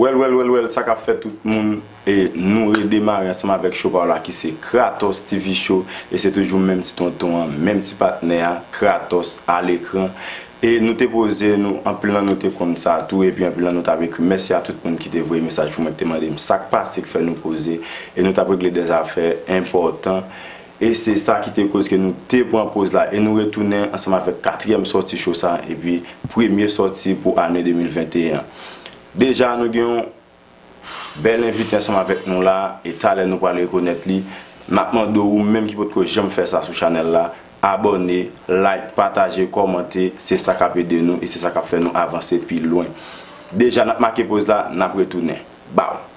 Wèl wèl wèl wèl sa kap fèt tout moun e nou redemare ansanm avèk show pa w la ki se Kratos TV show e se toujou menm ti tonton an menm ti patnè a Kratos a lekran e nou te poze nou anpil nan nou te konn sa tou epi anpil nan nou tap ekri m mèsi a tout moun ki te voye mesaj pou mwen ki te mande m sak pase k fè nou poze e nou tap regle de zafè enpòtan E se sa ki te koz ke nou te pran poz la e nou retounen ansanm avèk katriyèm sòti cho sa epi premye sòti pou ane 2021 an. Deja nou gen yon bèl envite ansanm avèk nou la e talè nou pral rekonèt li. M ap mande w ou menm ki potko janm fè sa sou chanèl la, abòne, like, pataje, kòmante, se sa k ap ede nou e se sa k ap fè nou avanse pi lwen. Deja n ap make poz la, n ap retounen. Baww!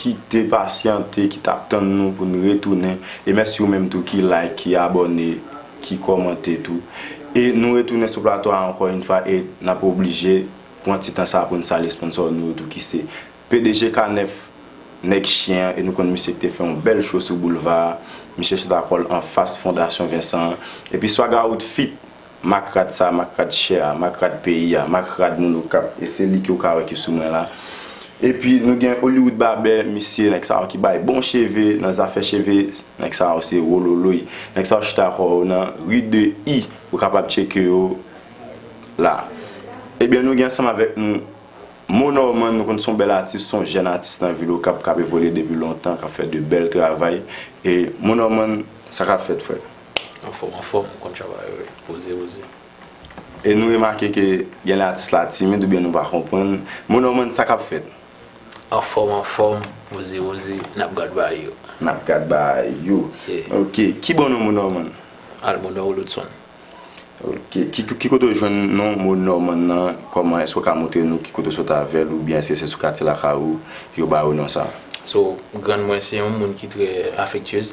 Ki te pasyante, ki tap tann nou pou n retounen. E mèsi ou menm tou ki like, ki abòne, ki kòmante tou. E nou retounen sou plato a ankò yn fwa e nap oblije pran ti tan sa pou n salye sponsor nou yo tou ki se pdg K9 nèg chyen an e nou konn misye ki te fè yon bèl show sou boulva a. Miche chita kò l anfas fondasyon Vincent an. Epi Swagawood feat. Mak rad sa, mak rad chè a, mak rad peyi a, mak rad moun Okap, e se li ke ou ka wè ki sou mwen la. E pi nou gen Hollywood Barbè, misye, nèg sa yo ki bay bon cheve, nan zafè cheve, nèg sa yo se wololoy. Nèg sa yo chita kò yo nan Rue de I, ou kapab tcheke yo la. E byen nou gen ansanm avèk nou Mo Norman, nou konn son bèl atis, son jèn atis nan vil Okap k'ap evolye depi lontan, k'ap fè de bèl travay. E Mo Norman, sa k'ap fèt frè? Anfòm anfòm ou konn travay ou wi poze poze. E nou remake ke gen lè atis la timid oubyen nou pa konprann Mo Norman sa kap fèt? Anfòm anfòm poze poze nap gad ba yo. Nap gad ba yo ok ki bon non Mo Norman? Al Mo Nor Oloudson. Ok ki kote ou jwenn non Mo Norman nan kòman èske ou ka montre nou ki kote ou sot avèl oubyen èske se sou katye lakay ou yo ba ou non sa? So grann mwen se yon moun ki trè afektyez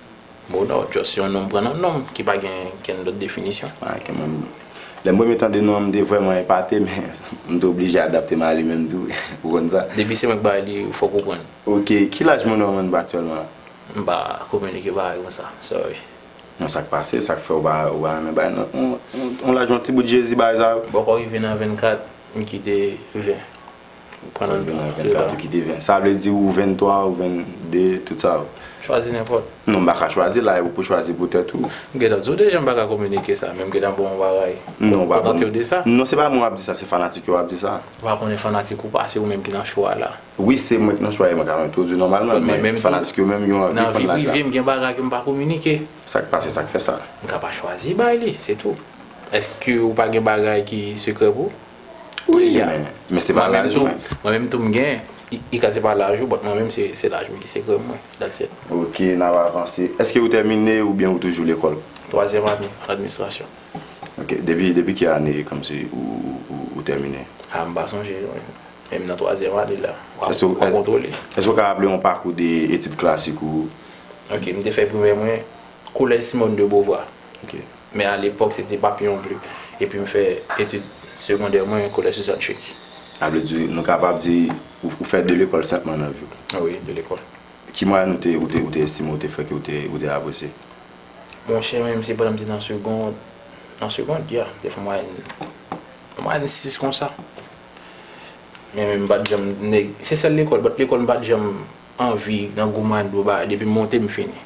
Mono just yon nom pran nan nom ki pa gen kenn lòt definisyon. Lè m premye tande non an m te vrèman epate men m te oblije adapte m a li menm tou ou konn sa. Depi se mwen k bay li ou fòk ou prann. Ok, ki laj Mono an rann aktyèlman la? M pa kominike bagay konsa, sorry. Bon sak pase, sak fè ou pa renmen bay yon laj yon ti bout jezi bagay sa yo? Bòkò rive nan 24 m kite 20. Ou pran nan 24 ou kite 20. Sa vle di ou 23 ou 22 tout sa yo. Chwazi nenpòt. Non m paka chwazi la e ou pou chwazi pou tèt ou. M gentan di w deja m paka kominike sa men m gentan ba w yon bagay. Non ou pa ban m. Non se pa mwen w ap di sa se fanatik yo w ap di sa. Ou pa konnen fanatik ou pa se ou menm ki nan chwa la. Wi se mwen ki nan chwa e mwen ka entwodui nòmalman men fanatik yo menm yo anvi konn laj la. Nan vi prive m gen bagay ke m pa kominike. Sa k pase sa k fè sa. M ka pa chwazi bay li se tou. Eske ou pa gen bagay ki sekrè pou ou? Wi ya men se pa laj mwen. Mwen menm tou m gen li ka se pa laj ou but mwen menm se laj mwen ki se grenn mwen that's it. Ok n ap avanse. Eske ou tèmine oubyen ou toujou lekòl? Twazyèm ane an administrasyon. Ok depi ki ane kòmsi ou tèmine? Ah m pa sonje non men m nan twazyèm ane la w ap kontwole. Eske ou ka raple yon pakou de etid klasik ou? Ok m te fè primè mwen Collège Simone de Beauvoir. Ok. Men a lepòk se te Papillon Bleu epi m fè etid segondè mwen Collège Suzanne Chudy. Sa vle di nou kapab di ou fè 2 lekòl senpman nan vi w? Wi, 2 lekòl. Ki mwayèn ou te estime ou te fè ke ou te apresye? Bon chè men m se pandan m te nan segond, nan segond ya, m te fè mwayèn, yon mwayèn 6 konsa. Men men m pa t janm nèg, se sèl lekòl, lòt lekòl m pa t janm anvi nan gwo mwayèn pou ba, depi m monte m fini.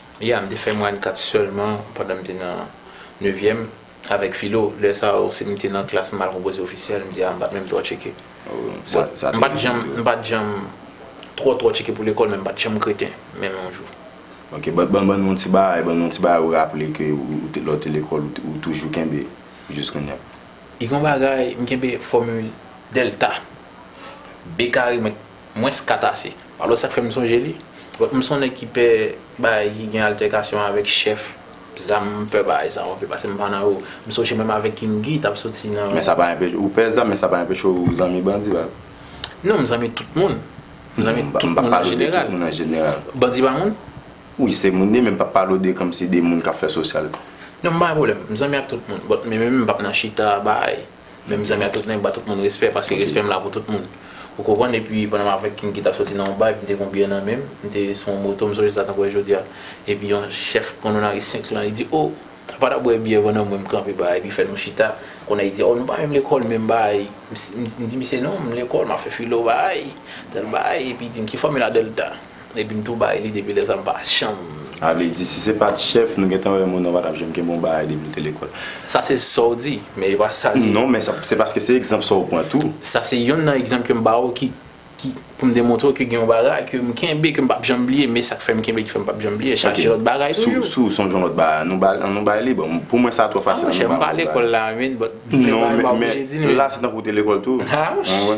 Ya, m te fè mwayèn 4 sèlman pandan m te nan nevyèm avèk filo. Lè sa yo, si m te nan klas m mal konpoze ofisyèl, m di a m pa t menm twò tcheke. M pa t janm m pa t janm twò twò tcheke pou lekòl men m pa t janm kreten menm yon jou. Ok, ban ban nou yon ti bagay ban nou yon ti bagay ou raple ke ou te lè w te lekòl ou ou toujou kenbe jis kounya. Gen yon bagay, m kenbe fòmil dèlta, B kare mwen. Mwens katase. Alò sa k fè m sonje li? Bon, m son nèg ki pè bagay ki gen altèkasyon avèk chèf zam. M pè bagay sa yo anpil pase m pa nan yo. M sonje menm avèk King Guy t ap soti nan. Men sa pa anpeche ou pè zam men sa pa anpeche ou zanmi bandi pa vre? Non, m zanmi tout moun. M zanmi tout moun an jeneral. M pa pale de tout moun an jeneral. Bandi pa moun? Wi, se moun li ye men m p ap pale w de kòmsi de moun k ap fè sosyal. Non, m pa gen pwoblèm. M zanmi ak tout moun. Bon, men menm m p ap nan chita bagay. Men mezanmi a tout nèg m ba tout moun respè paske respè m la pou tout moun ou konprann epi pandan m avèk King ki tap soti nan yon bay m te gon biyè nan menm m te sou yon moto m sonje sa tankou e jodia epi yon chèf pran nou nan ri 5 lan li di oh ta pa ta bwè biyè pandan mwen m kanpe ba epi fè nou chita kounye a li di oh nou pa menm lekòl menm ba m di misye non m lekòl m ap fè filo ba tèl bagay epi di m ki fòmil a Delta. Epi m tou bay li depi lè sa m pa janm. A vle di si se pat chèf nou gentan wè moun nan patap janm gen bon bagay depi l te lekòl. Sa se sa w di, men e pa sa li ye. Non, men se paske se egzanp sa w pran tou. Sa se yonn nan egzanp ke m ba w ki pou m demontre w ke gen yon bagay ke m kenbe ke m pap janm bliye, men sa k fè m kenbe ki fè m pap janm bliye chaje lòt bagay toujou. Ok, si w sonje yon lòt bagay an nou bay li, bon pou mwen sa twò fasil an nou bay yon lòt bagay. A monchè m pa lekòl la men, but m vle bay m pa oblije di nou. Non men la se tankou w te lekòl tou. A monchè.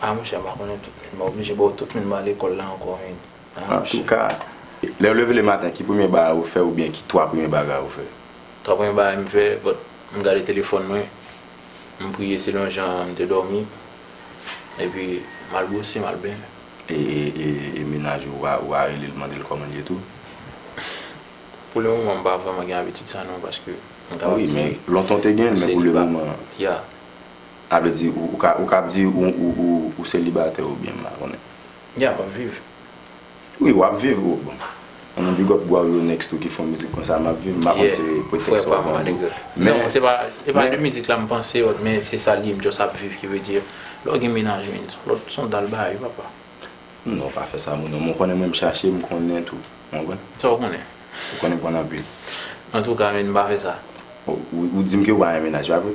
Ah monchè mpa konnen tout mun mwen oblije baw tout mun mpa lekol la ankò mun ah monchè. Antouka lèw leve le maten ki premye bagay ou fè oubyen ki 3 premye bagay ou fè? 3 premye bagay mfè but mgade telefòn mwen mpriye selon jan mte dòmi epi mal bwose mal benyen. E menaj ou a ou pa relel mandel kòman liye tou? Pou le moman mpa vrèman gen abitid sa non paske mkabap di wi mwen seliba. Wi men lontan ou te genyen men pou le moman. Yeah. Sa vle di ou ka ou ka ap di ou selibatè ou byen m pa konnen. Ya wap viv. Wi wap viv ou bon anmweyy big up bwaw yo next tou ki fon mizik konsa map viv m pa konn se pretèks wap vann tou men non se pa se pa de mizik la m panse ot men se sal ye m just ap viv ki vle di lèw gen menaj menn son lòt son dal bagay papa. Non pa fè sa moun non men w konnen mwen m chache m konnen tou ou konprann. Sa w konnen. Ou konnen m konnen anpil. Antouka menn pa fè sa. Ou di m ke ou pa gen menaj pa vre.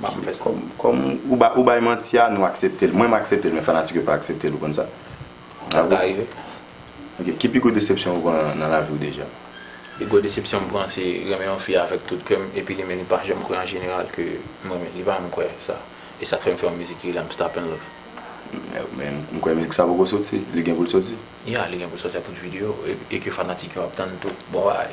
Map fè sa. Kòm ou bay manti a nou aksepte l. Mwen m aksepte l men fanatik yo pa aksepte l ou konn sa. Sa ka rive. Ok ki pi gwo desepsyon ou pran nan lavi ou deja? Pi gwo desepsyon m pran se renmen yon fi avèk tout kè m epi li menm li pa janm kwè an jeneral ke m renmen l. Li pa janm kwè sa. E sa k fè m fè yon mizik ki rele I'm stop in love. Men m kwè mizik sa poko soti. Li gen pou l soti? Ya li gen pou l soti ak tout video e ke fanatik yo ap tann tou. Bon bagay.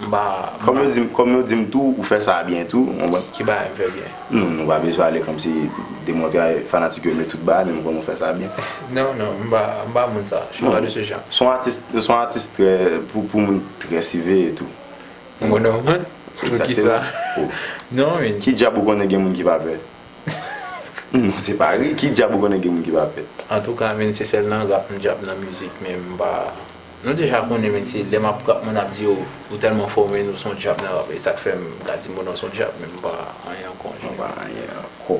M pa. Kòm yo di m, kòm yo di m tou ou fè sa byen tou, ou konprann? Ki bagay m fè byen? Nou, nou pa bezwen ale kòmsi demontre a fanatik yo nou tout bagay men m konnen w fè sa byen. Non, non, m pa, m pa moun sa. Je suis pas de ce genre. Son atis, ou son atis trè, pou, pou moun trè siveye tou. M konnen w moun? Poukisa? Non min. Ki dyab ou konnen gen moun ki pa pè? Non se pa ri, ki dyab ou konnen gen moun ki pa pè? Antouka min se sèl nan rap m dyab nan mizik men m pa. Nou deja konnen men se lè map rap moun ap di yo ou tèlman fò men ou son djab nan rap e sak fèm ka di moun an son djab men mpa anyen ankò an. Mpa anyen ankò.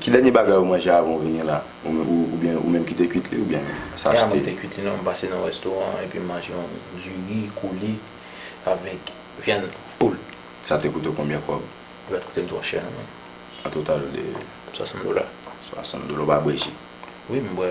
Ki dènye bagay ou manje avan ou vini la? Ou byen ou menm kite kwit li ou byen sa achte? E a mwen kite kwit li non, m pase nan yon restoran epi m manje yon du riz koule avèk vyann poul. Sa te koute w konbyen kòb? Li pat koute m twò chè non men. An total li? 60 dola. 60 dola, ou ba bwe ji? Wi m bwe.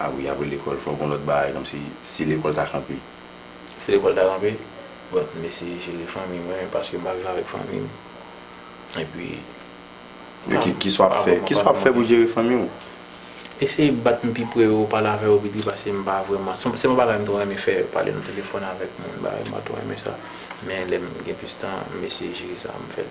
Ah wi apre lekòl fòk gon lòt bagay kòmsi si lekòl ta kanpe. Si lekòl ta kanpe bon m eseye jere fanmi mwen paske m ap viv avèk fanmi m epi m ap Kisa w ap fè Kisa w ap fè pou jere fanmi w? Eseye bat m pi pre yo pale avè yo pi pre paske m pa vrèman se pa yon bagay m twò renmen fè pale nan telefòn avèk moun bagay m pa twò renmen sa men lè m gen plis tan m eseye jere sa m fè l.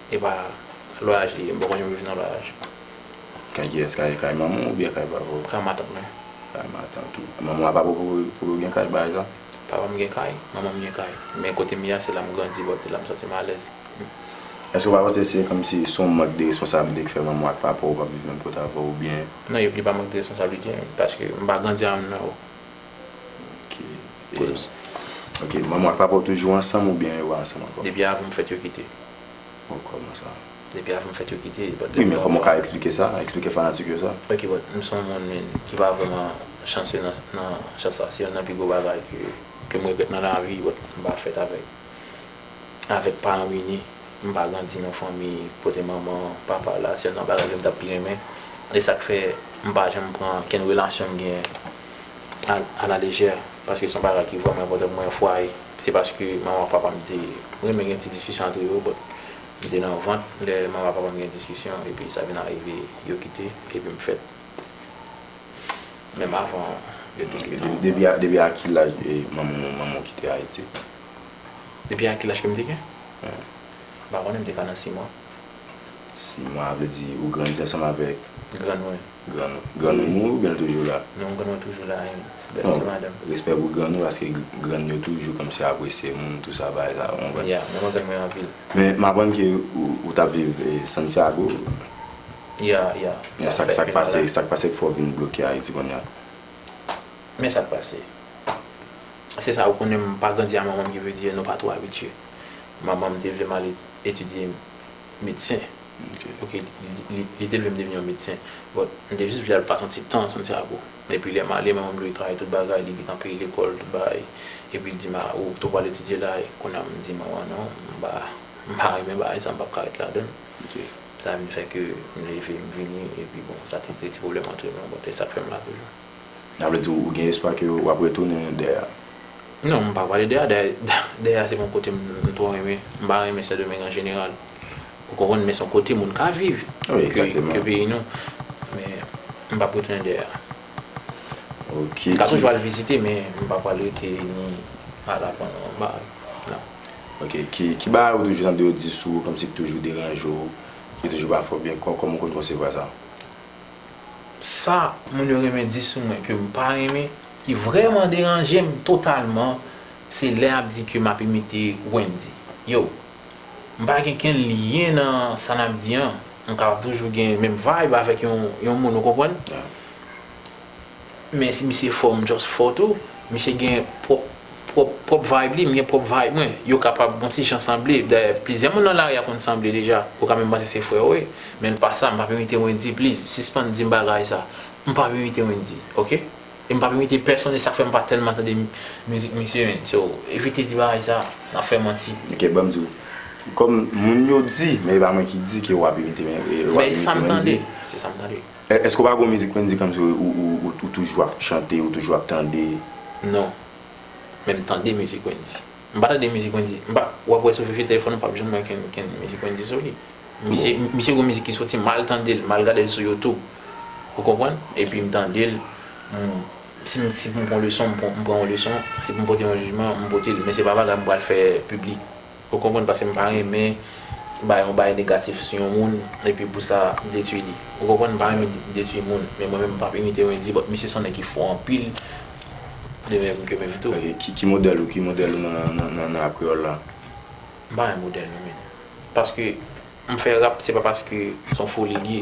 Epa lwayaj li ye m pa konn yo viv nan lwayaj. Kay kiyès kay kay manmanw oubyen kay papaw. Kay matant mwen. Kay matant ou. Manmanw a pa poko pou yo gen kay baz la. Papam gen kay, manmanm gen kay. Men kotem ye a se lam grandi bon se lam santim alèz. Eske ou pa panse se kòmsi son mank de responsablite ki fè manmanw ak papaw pap viv menm kote avèw oubyen. Non yo li pa mank de responsablite paske m pa grandi avèm non. Ok, manman w ak papa w toujou ansanm oubyen yo pa ansanm ankò? Depi avan m fèt yo kite. Bon, kòman sa? Depi avan m fèt yo kite. Wi, men kòman w ka eksplike sa? Eksplike fanatik yo sa? Ok, bon, m son moun ki pa vrèman chansye nan sans sa. Se youn nan pi gwo bagay ke m regrèt nan lavi, bon, m pa fèt avèk avèk paran m ini. M pa grandi nan fanmi kote manman, papa la. Se youn nan bagay ke m ta pi renmen. E sa k fè m pa janm pran kenn relasyon m genyen. a la lejè paske son bagay ki vrèman enpòtan pou mwen yon fwaye se paske manman papam te renmen gen ti diskisyon antre yo but m te nan vant lè manman papam gen diskisyon epi sa vin arive yo kite epi m fèt menm avan yo te kite m. Depi a ki laj manman w kite ayiti? Depi a ki laj ke m te gen? M pa konnen m te ka nan 6 mwa. 6 mwa vle di ou grandi ansanm avèk. Grann mwen. Grann ou mouri oubyen l toujou la? Non grann ou toujou la ui bèl ti madanm. Respè pou grann ou paske grann yo toujou kòmsi apresye moun tou sa bagay sa ou konprann. Ya mwen renmen grann anpil. Men m aprann ke ou tap viv Santiago. Ya ya. Men sak sak pase sak pase k fè w vin bloke Ayiti konnya? Men sak pase se sa ou konnen m pa grandi a manman m ki vle di nou pa twò abitye. Manman m te vle m ale etidye medsen. Ok, li te vle m devni yon medsen, but m te jis vle al pase yon ti tan nan Santiago. Epi lè m ale, manman m dwe travay tout bagay, li gntan peye lekòl, tout bagay. Epi l di m, a, ou gntan pral etidye la. Kounye a m di manman an, non, m pa, m pa renmen bagay sa, m pap ka ret ladan l. Sa vin fè ke m leve, m vini, epi bon, sa te kreye ti pwoblèm antre nou, but e sa k fè m la toujou. Sa vle di ou gen espwa ke wap retounen dè a? Non, m pa pale dè a, dè a se pa yon kote m twò renmen, m pa renmen Sendomeng an jeneral. Ou konprann, men se yon kote moun ka viv ke peyi nou. Men, m pap retounen dè a. M ka toujou al vizite men m pa pwal rete ni al aprann yon bagay, non. Ok, ki bagay ou toujou tande yo di sou ou kòmsi ki toujou deranje ou, ki toujou pa fè ou byen, kòman ou konn konsevwa sa? sa moun yo renmen di sou mwen ke m pa renmen, ki vrèman deranje m totalman, se lè y ap di ke m ap imite Wendy. Yo! M pa gen kenn lyen nan sa n ap di an. M kapab toujou gen menm vibe avèk yon moun, ou konprann? Men si misye fò m just fò tou, misye gen pwòp pwòp pwòp vibe li, m gen pwòp vibe mwen, yo kapab on ti jan sanble, dayè plizyè moun nan lari a konn sanble deja, ou ka menm panse se frè ou e, men l pa sa, m p ap imite Wendyy please, sispann di m bagay sa, m p ap imite Wendyy ok, e m p ap imite pèsonn e sa k fè m pa tèlman tande mizik misye menn, so evite di bagay sa, n ap fè manti. Ok banm di w, kòm moun yo di, men e pa mwen ki di ke w ap imite Wendyy, men e sa m tande, se sa m tande. Èske ou pa gen yon mizik Wendy kòmsi ou toujou ap chante, ou toujou ap tande? Non. Men m tande mizik Wendy. M pa tande mizik Wendy. M pa, w ap wè sou fifye telefòn ou p ap janm wè kenn mizik Wendy sou li. Misye, misye gen mizik ki soti, m al tande l, m al gade l sou youtube. Ou konprann? Epi m tande l, m, si m, si pou m pran yon leson, m pran yon leson, si pou m pote yon jijman, m pote l. Men se pa bagay m pral fè piblik. Ou konprann pase m pa renmen bay yon bagay negatif sou yon moun epi pou sa detwi li ou konprann m pa renmen detwi moun men mwen menm m pap imite wendyy but misye son nèg ki fò anpil de menm ke menm tou. Ok ki modèl ou ki modèl ou nan rap kreyòl la? M pa gen modèl non menn paske m fè rap se pa paske son foli l ye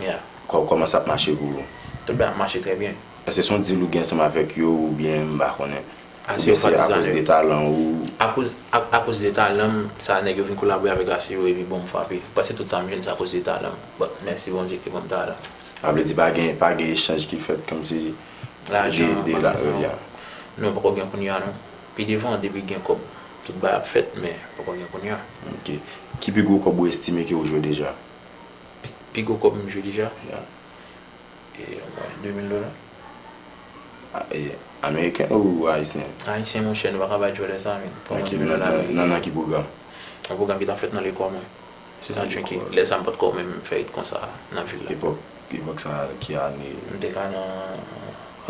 Yeah. Kòman sa ap mache pou ou? Tout bagay ap mache trè byen. Èske se yon deal ou gen ansanm avèk yo oubyen m pa konnen? Oubyen se akoz de talan ou? Akoz akoz de talan m sa nèg yo vin kolabore avèk Aseo epi bon m frape. M panse tout sa m jwenn se akoz de talan m. But mèsi Bondye ki te ban m talan. Sa vle di pa gen pa gen echanj ki fèt kòmsi Lajan, de la lajan. yeah. Non poko gen kounya non. Pi devan depi gen kòb tout bagay ap fèt men poko gen kounya. Ok. Ki pi gwo kòb ou estime ke ou jwe deja? Pi gwo kòb m jwe deja e mwen 2000 dola. E ameriken ou ayisyen? Ayisyen monchè nou pa ka bay djòlè sa men pou yon 2000 dola ameriken. Nan nan ki pwogram? Yon pwogram ki tap fèt nan lekòl mwen. Se sa ki lè sa m pat ko menm fè it konsa nan vil la. Epòk epòk sa ki ane? M te ka nan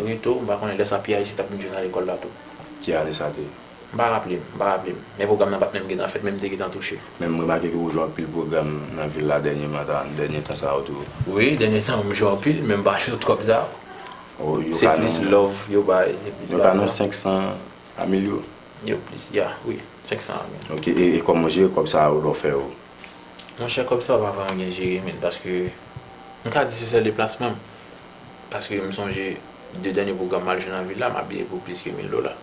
reto m pa konnen lè sa pi ayisyen tap vin jwe nan lekòl la tou. Ki ane sa te ye? M pa raple m, m pa raple m. Men pwogram nan pat menm gentan fèt men m te gentan touche. Men m remake ke ou jwe anpil pwogram nan vil la dènyeman sa, dènye tan sa yo tou. Wi, dènye tan yo m jwe anpil men m pa jwe twòp sa yo. Se plis love yo bay, se plis bagay sa. Yo ka nan 500 a mil yo? Yo plis, ya, wi, 500 a mil. Ok, e kòman ou jere kòb sa yo lè ou fè yo? Monchè kòb sa yo pa vrèman gen jere men paske m ka di se sèl deplasman m. Paske m sonje 2 dènye pwogram m al jwe nan vil la m abiye pou plis ke mil dola.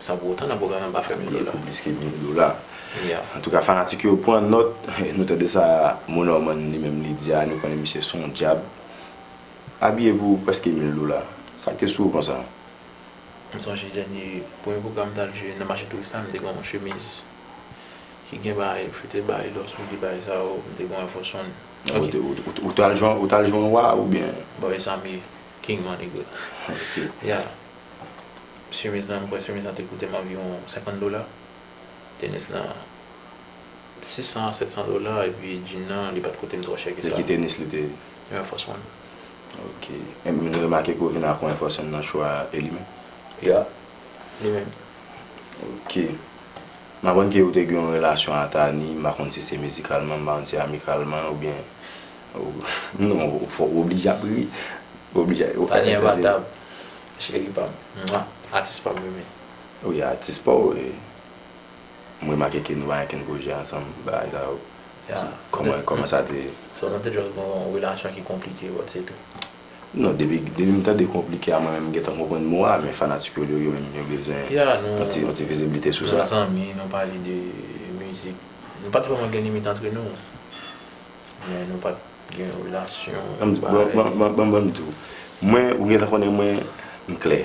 San pou otan nan pwogram nan pa fè milyon dola. Plis ke milyon dola. Antouka fanatik yo pran nòt, nou tande sa Mo Norman li menm li di a, nou konnen misye son djab. Abiye pou prèske mil dola. Sak te sou ou konsa? M sonje dènye premye pwogram m tal jwe nan mache touris la, m te gen yon chemiz ki gen bagay m choute bagay lò sou li bagay sa yo, m te gen yon Airforce One. Ou tal jwe an wa oubyen? Bon e sa m ye, King Maniga. Chemiz lan, m kwè chemiz lan te koute m anviwon 50 dola. Tenis lan 600 a 700 dola epi djin nan li pa t koute m twò chè ke sa. Se ki tenis li te? Yon Air Force One. Ok. E m remake ke w vin ak yon Air Force One nan chwa a, e li menm? Ya. Li menm. Ok. M aprann ke ou te gen yon relasyon a Thani, m pa konn si se mizikalman, m pa konn si amikalman oubyen Non fok ou oblije ap ri. Tani enbatab cheri pam. Atis pam mimi. Wi atis paw e m remake ke nou pa gen kenn pwojè ansanm bagay sa yo kòman sa te. So nou te just gen yon relasyon ki konplike but se tou. Non depi m tande konplike a mwen menm m gentan konprann mo a men fanatik yo yo menm yo bezwen yon ti viziblite sou sa. Nou zanmi nou pale de mizik nou pat vrèman gen limit antre nou. Men nou pat gen relasyon parèy. Bon banm diw. Mwen ou gentan konnen mwen m klè.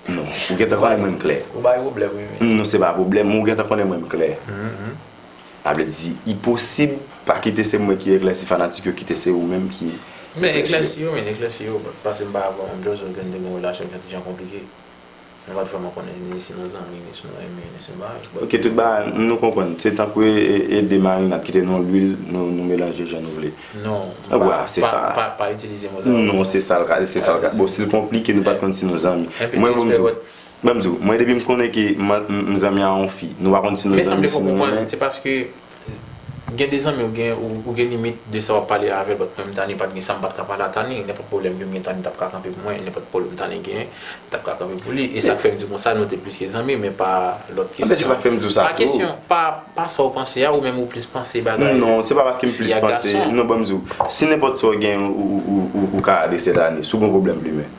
Non ou gentan konnen mwen m klè. Ou bay pwoblèm wi men. Non se pa pwoblèm men ou gentan konnen mwen m klè. Sa vle di li posib pa kite se mwen ki eklèsi fanatik yo kite se ou menm ki eklèsi yo. Men eklèsi yo men eklèsi yo paske m pa avèw menm jan, se ou ki konn te gen relasyon ki yon ti jan konplike. Mwen pa t vrèman konnen ni si nou zanmi, ni si nou enmi, ni si nou bagay. But. Ok, tout bagay, nou konprann. Se tankou e de marinad kite nou lwil, nou melanje jan nou vle. Non, m pa, pa, pa itilize mo sa yo. Non, se sa l ka, se sa l ka. Bon, si l konplike, nou pa t konn si nou zanmi. Enpi mwen espere w. Mwen m di w, mwen depi m konnen ke m zanmi a yon fi, nou pa konn si nou zanmi, si nou. Men sanble fò w konprann, se paske. Gen de zanmi ou gen ou gen limit de sa wap pale avèl but mwen m Tani pat gen sam pat ka pale a Tani nenpòt pwoblèm kem gen Tani tap ka kanpe pou mwen nenpòt pwoblèm Tani genyen m tap ka kanpe pou li e sak fèm di konsa nou te plis ke zanmi men pa lòt kesyon. Anfen se sak fèm diw sa tou. Pa kesyon pa pa sa ou panse a ou menm ou plis panse bagay Non se pa paske m plis panse non banm diw si nenpòt sa ou gen ou ka adrese Tani si w gen yon pwoblèm plimen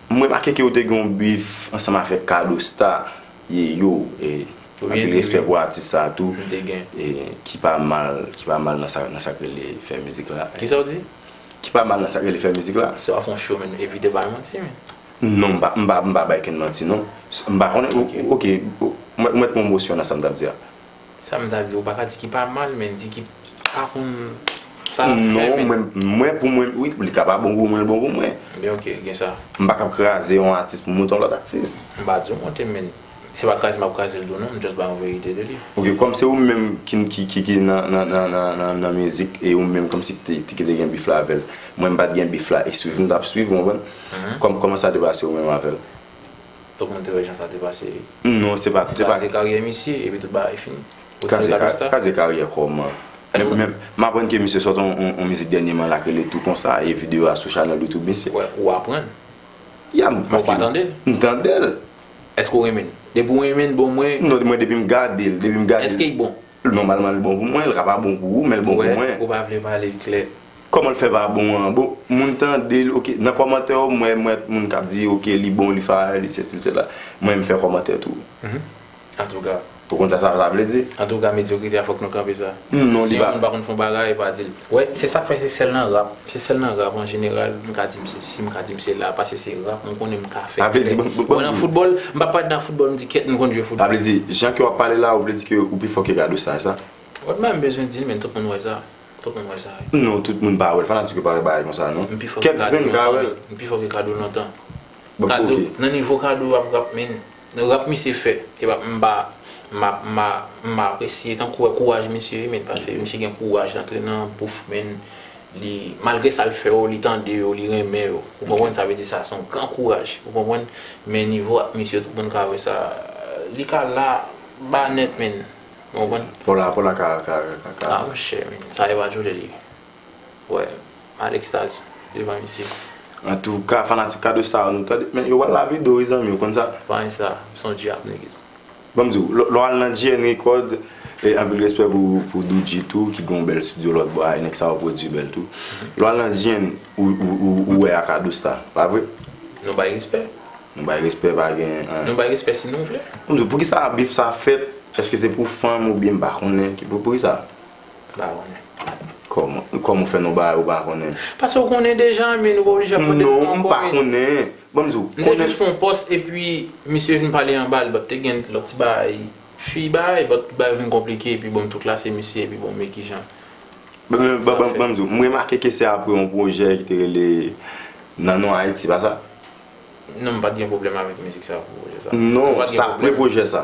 M remake ke ou te gen yon bif ansanm avèk Cadosta, ye yo, e anpil respè pou atis sa a tou, e ki pa mal, ki pa mal nan sa, nan sa k rele fè mizik la. Ki sa ou di? Ki pa mal nan sa k rele fè mizik la. Se w ap fè yon show menm, evite bay manti men. Non, m pa, m pa, m pa bay kenn manti non. M pa konnen, ok, ou mèt pwomosyon nan sa m t ap di a. Sa m ta di, ou pa ka di ki pa mal, men di ki pa konn sa l ap fè. Non, mwen, mwen pou mwen, wi, li ka pa bon pou mwen, l bon pou mwen. Byen ok, gen sa. M pa kab kraze yon atis pou m monte yon lòt atis. M pa di w monte, men se pa kraze m ap kraze l tou non, m just bay yon verite de li. Ok, kòm se ou menm ki, ki, ki nan, nan, nan, nan, nan, nan mizik, e ou menm kòm si ki te, ki te gen bif la avè l, mwen m pa t gen bif la, e swiv m t ap swiv, ou konprann? Kòman sa te pase ou menm avè l? Tout moun te wè jan sa te pase wi. Non se pa. Kraze karyè misye epi tout bagay fini. Kraze karyè kòman? M aprann ke misye sòt yon mizik dènyeman la k rele tou konsa e video a sou chanèl YouTube misye. Ou aprann? Ya m. Ou pa tande l? M tande l. Èske ou renmen l? Depi ou renmen l bon mwen. Non mwen depi m gade l. Èske li bon? Nòmalman l bon pou mwen, l ka pa bon pou ou, men l bon pou mwen. Ou wè, ou pa vle pale l klè. Kòman l fè pa bon an? Bon, moun tande l, oke. Nan kòmantè yo, mwen wè moun k ap di, oke, li bon, li fire, li sesi, li sela. Mwen m fè kòmantè tou. Antouka. Ou konn sa sa vle di? Antouka, medyokrite a fòk nou kanpe sa. Non, li pa. Si yon moun pa konn fè yon bagay, pa di l. Wè se sak fè se sèl nan rap, se sèl nan rap an jeneral m ka di m se si m ka di m se la pase se rap m konnen m ka fè Sa vle di banm banm Wè nan di foutbòl m pa pale nan foutbòl m di kèt m konn jwe Sa foutbòl. vle di jan ke wap pale la ou vle di ke ou pi fò ke Gado sa e sa? Wè m pa menm bezwen di l men tout moun wè sa, tout moun wè sa wi. Non tout moun pa wè l, fanatik yo pa wè bagay konsa non. M pi fò ke Kèk Gado grenn ka lontan wè l. menn, m pi fò ke Gado lontan. Bon Kado ok. nan nivo Kado ap rap menn Nan rap misye fè epa mpa mpa apresye tankou wè kouraj misye wi men pase misye gen kouraj lantre nan bouf menn li malgre sal fè yo li tande yo li renmen yo ou konprann sa vle di sa son gran kouraj ou konprann men nivo ak misye tout moun ka wè sa li ka la ba nèt menn ou konprann. Pola ka ka. Ah monchè men sa yo pa jwenn li. Wè an extase devan misye. Antouka fanatik kado sa yo nou tande men yo pral lave do wi zanmi ou konn sa. Pagn sa son djab niggas. Banm diw lè w al nan GN records e anpil respè pou Doodji tou ki gen yon bèl studio lòt bò a e nèg sa yo pwodui bèl tou lè w al nan GN ou wè a Kadostar pa vre? Nou bay respè. Nou bay respè pa gen. Nou bay respè si nou vle. Banm diw poukisa bif sa fèt èske se pou fanm oubyen m pa konnen poukisa. Ou pa konnen. Kòman? Kòman ou fè nou bay ou pa konnen? Pase ou konnen deja anmyee nou pa oblije ap mande m sa ankò. Non, m pa konnen. Ban m di w. M te jis fè yon pòs epi misye vin pale anba l but te gen lòt ti bagay fi bay but bagay yo vin konplike epi bon m tou klase misye epi bon m e kijan sa fèt. Ban m di w, m remake ke se apre yon pwojè ki te rele Nan non Ayiti, pa sa? Non, m pa t gen pwoblèm avèk mizik sa pou pwojè sa. Non, se apre pwojè sa.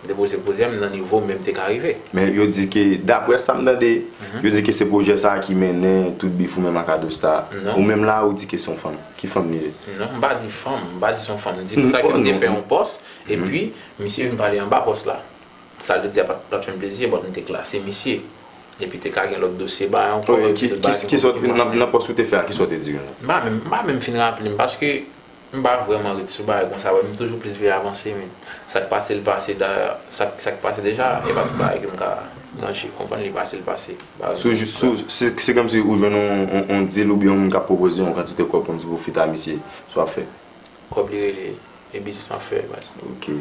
M te poze pwojè m nan nivo men m te ka rive. Men yo di ke, daprè sa m tande, yo di ke se pwojè sa a ki mennen tout bif ou menm ak Adosta a. Ou menm la a ou di ke se yon fanm. Ki fanm li ye? Non, m pa di fanm. M pa di se yon fanm. M di konsa ke m te fè yon pòs, epi misye vin pale anba pòs la. Sa l te di a pa t fè m plezi, ebòt m te klase misye. Epi te ka gen lòt dosye ba yo ankò. Nan pòs ou te fè a, kisa w te di yo? M pa menm fin raple m, paske M pa vrèman ret sou bagay konsa vre, m toujou plis vle avanse men sak pase l pase da sak pase deja e pa tout bagay ke m ka manje ou konprann li pase l pase bagay yo jis la. Se kòmsi ou jwenn yon dil oubyen yon moun kap pwopoze yon kantite kòb kòmsi pou fita misye sa wap fè? Kòb li rele e biznis map fè baz. Ok.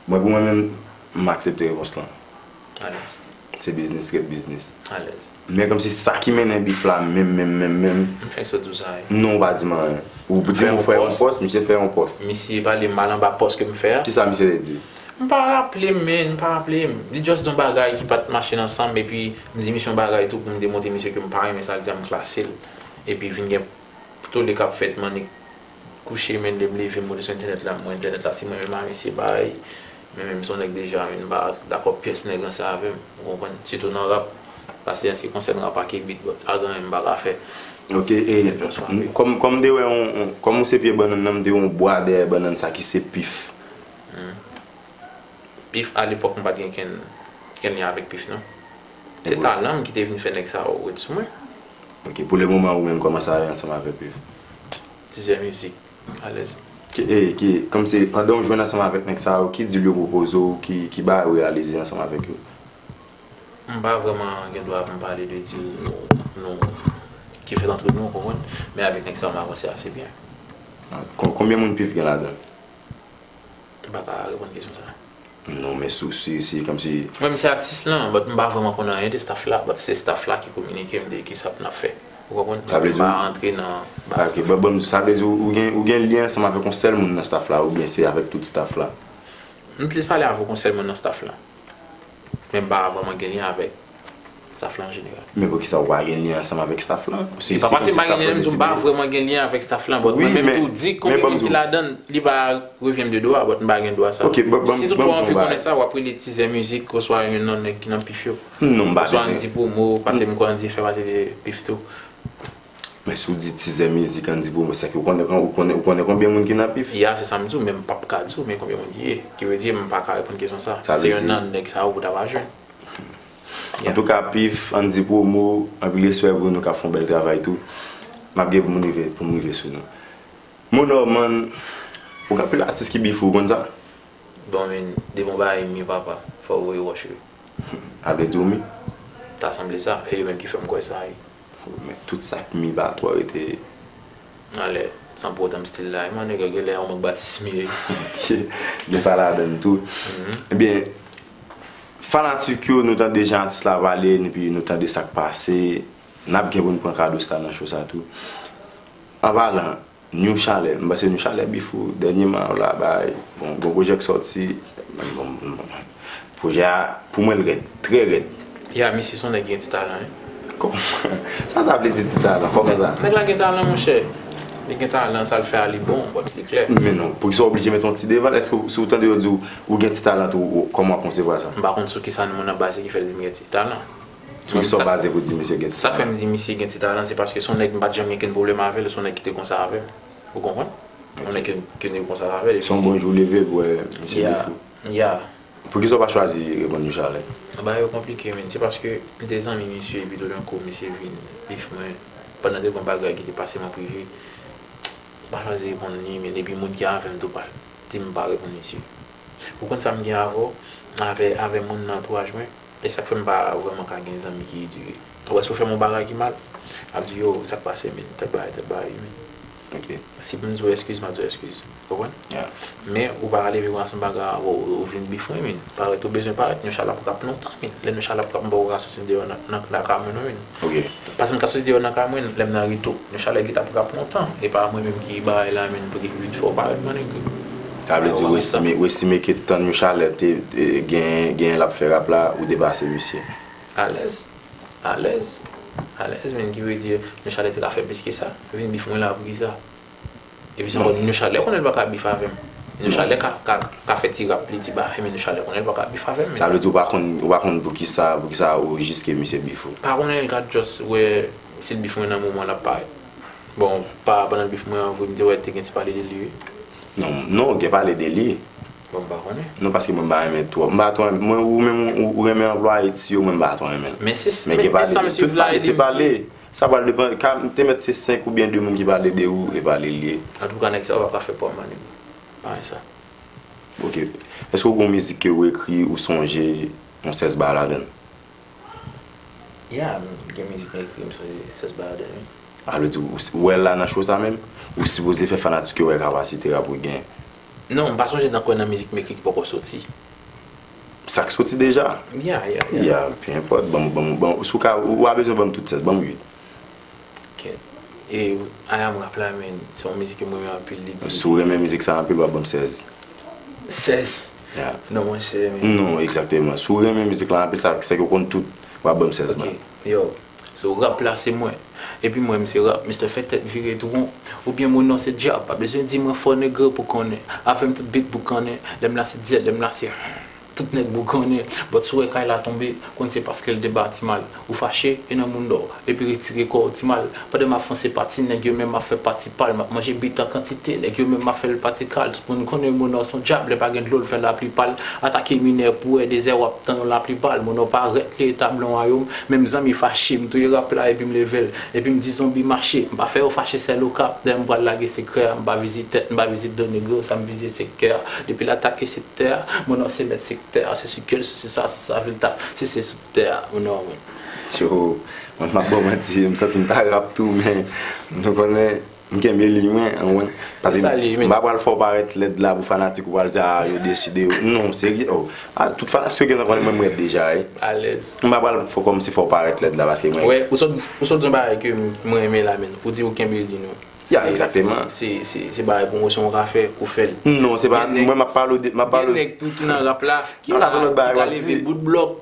Mwen pou mwen menm m aksepte repons lan. Alèz. Se biznis ret biznis. Alèz. Men kòmsi sa ki mennen bif la menm menm menm menm. M fenk sot di w sa wi. Non ou pa di m anyen. Ou di m ou fè yon pòs, misye fè yon pòs. Misye pale mal anba pòs ke m fè a. Kisa misye te di? M pa raple m men, m pa raple m. Li just di yon bagay ki pat mache nan san m epi m di misye yon bagay tou pou m demontre misye ke m pa renmen sa l di a m klase l. Epi vin gen tolle k ap fèt m annik. kouche men lèm leve mwen sou entènèt la mwen entènèt la se mwen menm avèl se parèy men menm son nèg deja menm pa dakò pyès nèg ranse avèm ou konprann sitou nan rap pase ansi konsèn rap ake bit bòt pagan anyen mpa ka fè ok e kòm mte wè yon kòm ou se pye bannann nan mte wè yon bwa dèyè bannann sa ki se pif humm pif alepòk mpat gen kenn lyen avèk pif non se talanm kite vin fè nèg sa yo ret sou mwen. Ok pou le moman ou menm koman sa ye ansanm avek yo. Tizè mizik alèz. Ok kòm se pandan ou jwenn ansanm avek nèg sa yo ki deal yo pwopoze ou ki bagay ou reyalize ansanm avek yo? M pa vreman gen dwa pou m pale de deal nou ki fèt antre nou ou konprann men avek nèg sa yo m avanse ase byen. Konbyen moun pif gen ladan? M pa ka reponn kesyon sa. Non men sou se komsi. Mwen m se atis lan but m pa vreman konnen anyen de staff la but se staff la ki kominike m de kisa pou n ap fè ou konprann m m pa antre nan baz staff la. Ok sa vle di ou gen lyen ansanm avèk yon sèl moun nan staff la oubyen se avèk tout staff la? M plis pale avèk yon sèl moun nan staff la. Men m pa vrèman gen lyen avèk staff lan an jeneral. Men poukisa ou pa gen lyen ansanm avèk staff lan? Se pa paske m pa gen lyen, m di m pa vrèman gen lyen avèk staff lan but mwen menm tou di konbyen moun ki ladann li pa revyen m de dwa but m pa gen dwa sa. Si toutfwa w anvi konnen sa w ap rele Tizè Mizik oswa yon nan nèg ki nan pif yo. Oswa Andy Promo paske m kwè Andy fè pati de pif tou. Men si w di tizè mizik an di pou mwen sa ki ou konnen ou konnen ou konnen konbyen moun ki nan pif? Ya se sa m di w men m pap ka di w men konbyen moun ki ye. Ki vle di m pa ka reponn kesyon sa. Sa vle di Se yon nan nèg sa yo pou ta va jwenn. Ya. Antouka pif an di promo anpil respè pou nou kap fon bèl travay tou. Map gen pou m rive pou m rive sou nou. Mon Norman ou gen anpil atis ki bif ou, ou konn sa? Bon men de bon bagay mi papa fò w voye wòch wi. A vle di w mi? Ta sanble sa. E yo menm ki fè m kwè sa wi. Men tout sa k mi ba twa rete anlè san pwotanm stil la e man nèg yo genlè yon mank batisme gen sa ladann tou ebyen fanatik yo nou tande jan atis la pale epi nou tande sak pase nap gen poun pran kado sa nan cho sa tou anpalan New chalè m panse new chalè beef ou dènyeman ou la bay bon gwo projè k sòti projè a pou mwen l rèd trè rèd. Ya misye son nèg ki gen ti talan wi. Kòman sa sa vle di ti talan kòman sa. Nèg la gen talan monchè li gen talan sal fè a li bon bon li klè. Men non poukisa w oblije met yon ti devan l èske w si w tande yo di w ou gen ti talan tou kòman w konsevwa sa. M pa konn sou kisa moun an baze ki fè l di m gen ti talan. Sou ki sa w baze pou di misye gen ti talan? Sa k fè m di misye gen ti talan se paske se yon nèg m pa t janm gen okenn pwoblèm avè l, se yon nèg ki te konsa avè m. Ou konprann? Yon nèg ke nou te konsa avè l. Se yon bon jou w leve pou w wè misye defo. Ya. Pou ki sa w pa chwazi reponn li chalè? Bagay yo konplike men. Se paske m te zanmi misye epi toudenkou misye vin bif mwen pandan de bon bagay ki te pase m an prive. M pa chwazi reponn li men depi moun ki avè m tou pa di m pa reponn misye. Ou konn sa m gen avè w, avè moun nan antouaj mwen. E sak fè m pa vrèman ka gen zanmi ki edike. Ou wè si ou fè m yon bagay ki mal, m ap di yo sak pase min, tèt bagay, tèt bagay wi min. Ok. Si pou m di ou eskiz, m ap di ou eskiz. Ou konprann? Ya. Men ou pa ka leve konsa san baga ou vin bif mwen min. Parèt ou bezwen parèt, nou chalap rap lontan min. Lè nou chalap rap m pa ka soti deyò nan kay mwen non min. Ok. Pasem ta soti deyò nan kay mwen lèm nan reto. Yon chalè ki tap rap lontan. Epa mwen menm ki bagay la menn pouki vit fè ou parèt man nèg. Sa vle di Westime Westime ke tan yon chalè te genyen genyen lap fè rap la ou depase misye. Alèz Alèz Alèz menn ki vle di yon chalè te ka fè plis ke sa. Vin bif mwen la poukisa. Epi se bon Nyoushalè konnen l pa ka bif avè m. Nyoushalè ka fè ti rap li, ti bagay men Nyoushalè konnen l pa ka bif avè m. Sa vle di ou pa konn ou pa konn poukisa poukisa ou jiske misye bif ou? Pa konnen l ka just wè si l bif mwen nan moman l ap parèt. Bon pa pandan l bif mwen an vre m te wè te gen ti pale de li wi. Non non gen pale de li. Bon m pa konnen. Non paske mwen m pa renmen twòp. M pa twò renmen mwen ou menm ou renmen anplwaye ti yo mwen m pa twò renmen l. Men se men sa misye vle a e li m di. Sa pral depan, ka te mèt se 5 oubyen 2 moun ki pale de ou e pa li l ye. Antouka nèg sa yo paka fè pwa manim payen sa. Ok. Eske ou gen yon mizik ke ou ekri ou sonje yon sèss ba ladann? Yeah, m gen mizik m ekri m sonje sèss ba ladann wi. A vle di ou wè la nan show sa menm? Ou sipoze fè fanatik yo wè kapasite rap ou genyen. Non, m pa sonje nan kwen nan mizik m ekri ki poko soti. Sa k soti deja? Yeah, yeah, yeah. Yeah, peu importe. Banm, banm, banm. Si w ka, ou pa bezwen banm tout 16, banm 8. Ok. E I am rap la men, se yon mizik ke m renmen anpil. Li di. Si w renmen mizik sa anpil, w ap banm 16. 16? Yeah. Non monchè men. Non, exactement. Si w renmen mizik la anpil, sa vle di ke w konn tout, w ap banm 16 ban. Ok. Yo, So rap la se mwen. Epi mwen m se rap Mister fè tèt vire tou won Ou byen mwen non se dyab Pa bezwen di mwen fò negre pou konnen Avè m tout bit boukannen Lè m la se dyèl lè m la se humm Tout nèg bougonnen But si w wè kay la tonbe Konn se paske l te bati mal Ou fache e nan mounda w Epi retire kò w ti mal Pandan m ap fonse pati nèg yo men m ap fè pati pa l M ap manje bit an kantite Nèg yo men m ap fè l pati kal. Moun konnen monò son djab lè pa gen dlo l fè lapli pal atake minè pou wè dezè wap tann lapli pal monò pa rèt li etabli yon wayom menm zanmi fache m touye rap la epi m leve l epi m di zonbi mache m pa fè yo fache sèl okap dèyè m pral lage sekrè a m pa vizit tèt m pa vizit do nèg yo sa m vize se kè a depi l atake sektè a monò se mèt sektè a se sike l sou se sa sou sa vil tap se se sou tè a monò mwen. Tjo, mwen pap baw manti, m santi m ta rap tou men nou konnen. M kenbe liy mwen ou konprann. Pase m pa pral fè w parèt lèd la pou fanatik ou pral di a yo desu de ou. Non serye oh. A tout fanatik yo gentan konnen mwen m rèd deja wi. Alèz. M pa pral fè kòmsi fè w parèt lèd la paske mwen. Wè ou sot ou sot di yon bagay ke m renmen la menn. Ou di ou kenbe liy nou. Ya egzakteman. Se se se bagay pwomosyon ou ka fè ou fè l. Non se pa mwen m ap pale w de m ap pale w. Gen nèg tou ki nan rap la ki ka ki ka leve bout blòk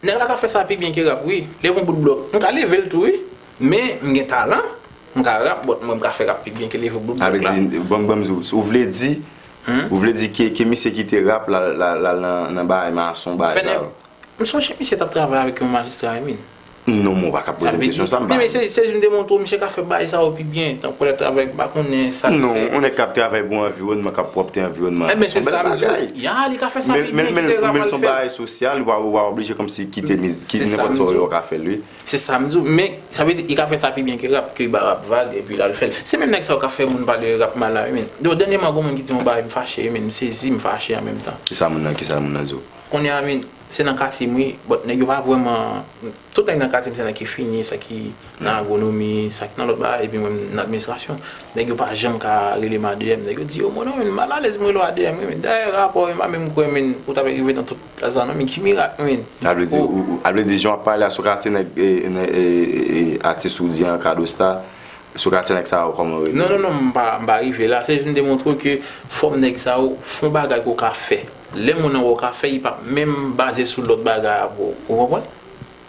Nèg la ka fè sa pi byen ke rap wi, lèm yon bout blòk m ka level tou wi men m gen talan m ka rap but mwen m ka fè rap pi byen ke leve bout blòk la. Avedi banm banm di ou vle di ou vle di ke ke misye kite rap la la al nan bay mason bay sa yo. M sonje misye tap travay avèk yon majistra wi min. Non men ou pa ka pozem kesyon sa m pa. Mesye se jim demontre w misye ka fè bay sa yo pi byen tankou lèl travay m pa konnen sak fè. Non yon nèg kap travay pou anviwònman kap pwòpte anviwònman son bèl bagay men men son bagay sou. Si a li pa ou pa oblije kòmsi kite mizik ki nenpòt sa ou ye ou ka fèl wi. Se sam di w men sa vle di li ka fè sa pi byen ke rap ke li ba rap vag epi lal fèl se menm nèg sa yo kap fè moun pale rap mal la wi menn do dènyèman gon moun ki di m yon bagay m fache wi menn m sezi m fache an menm tan. Kisa moun nan kisa moun nan di w. Kounye a menn se nan katye m wi but nèg yo pa vrèman tout nèg nan katye m se nèg ki fini sa ki. nan agwonomi, sa ki nan lòt bagay, epi mwen nan administrasyon, nèg yo pa janm ka rele m adm, nèg yo di yo, mwen non mwen mal alèz pou m rele w adm wi men, dayè rapò yo m pa menm kwè men ou ta pe rive nan tout plas la non men ki mirak men A vle di ou, a vle di jan w ap pale a sou katye nèg atis ou di an Cadosta, sou katye nèg sa yo kòman yo rele yo? Non non non m pa, m pa rive la, se jis m te montre w ke fòm nèg sa yo fon bagay ke w ka fè, lè moun nan wè w ka fè li pap menm baze sou lòt bagay a bro, ou konprann?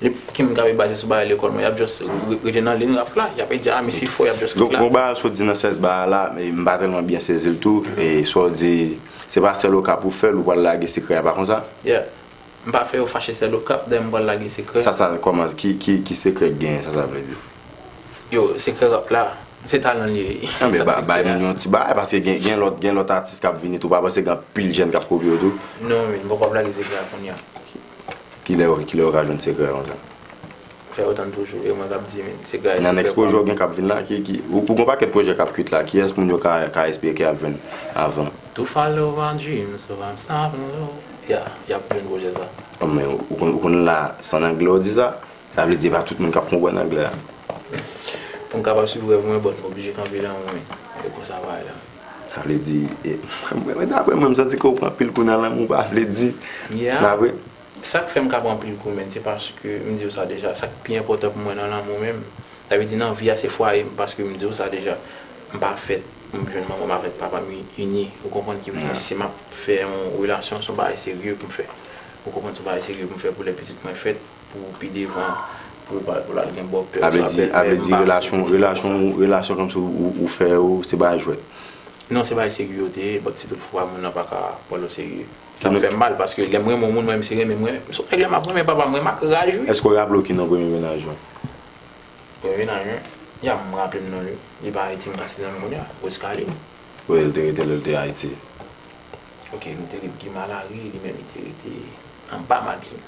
Nip Kim gabe baze sou bagay lekòl mwen yap just rete nan lin rap la yap di ah misye fò yap just kite la. Gon bagay ou sot di nan sens bagay la m pa tèlman byen sezi l tou e sa w di se pa sèl okap ou fè l ou pral lage sekrè a pa konsa? Yeah m pa fè yo fache sèl okap dayè m pral lage sekrè. Sa sa kòman ki sekrè ki genyen sa sa vle di? Yo sekrè rap la se talan li ye. Nan men bay moun yon ti bagay paske gen lòt atis kap vini tou pa panse gen anpil jèn kap kopye w tou. Non men m poko ap lage sekrè a kounya. Kilè yo ka jwenn sekrè konsa? Fè yo tann toujou e mwen kap di se gaye sekrè pam. Nan next pwojè ou gen kap vin la ki ki ou gon pakèt pwojè kap kwit la kiyès moun yo ka espere ke yap jwenn avan? Tou follow my dreams so I'm stopping low ya yap jwenn pwojè sa. Bon men ou konn la se an anglè ou di sa? Sa vle di e pa tout moun kap konprann anglè a. Poum kapab swiv rèv mwen but m oblije kanpe nan mwen e konsa bagay la. Sa vle di, mwen daprè mwen m santi ke ou pran anpil kou nan lanmou pa vle di nan apre. Sak fè m ka pran anpil kou menn se paske m di ou sa deja sak pi enpòtan pou mwen nan lanmou menm sa vle di nan vi a se fwaye m paske m di ou sa deja m pa fèt pou m jwenn manman m avèk papa m ini ou konprann ki vle di si map fè yon relasyon son bagay serye pou m fè ou konprann son bagay serye pou m fè pou lè pitit mwen fèt. Pou pi devan pou ou al gen bòpè ou sa bèlmè. A vle di relasyon kòmsi ou fè yo se bagay jwèt. Non se bagay serye yo te ye but si tout fwa moun nan pa ka pran l oserye. Sa m fè m mal paske lè m renmen yon moun m renmen se renmen m renmen. Sou nèg la m ap renmen papa m renmen m ak raj wi. Èske w raple w ki non premye mennaj ou? Premye mennaj mwen? Ya m raple m non l wi. Li pa Ayiti m ka site non l kounye a. Roscaline. Kote l te rete lè l te Ayiti? Ok nou te ret Guy Malary li menm li te rete anba Madeline.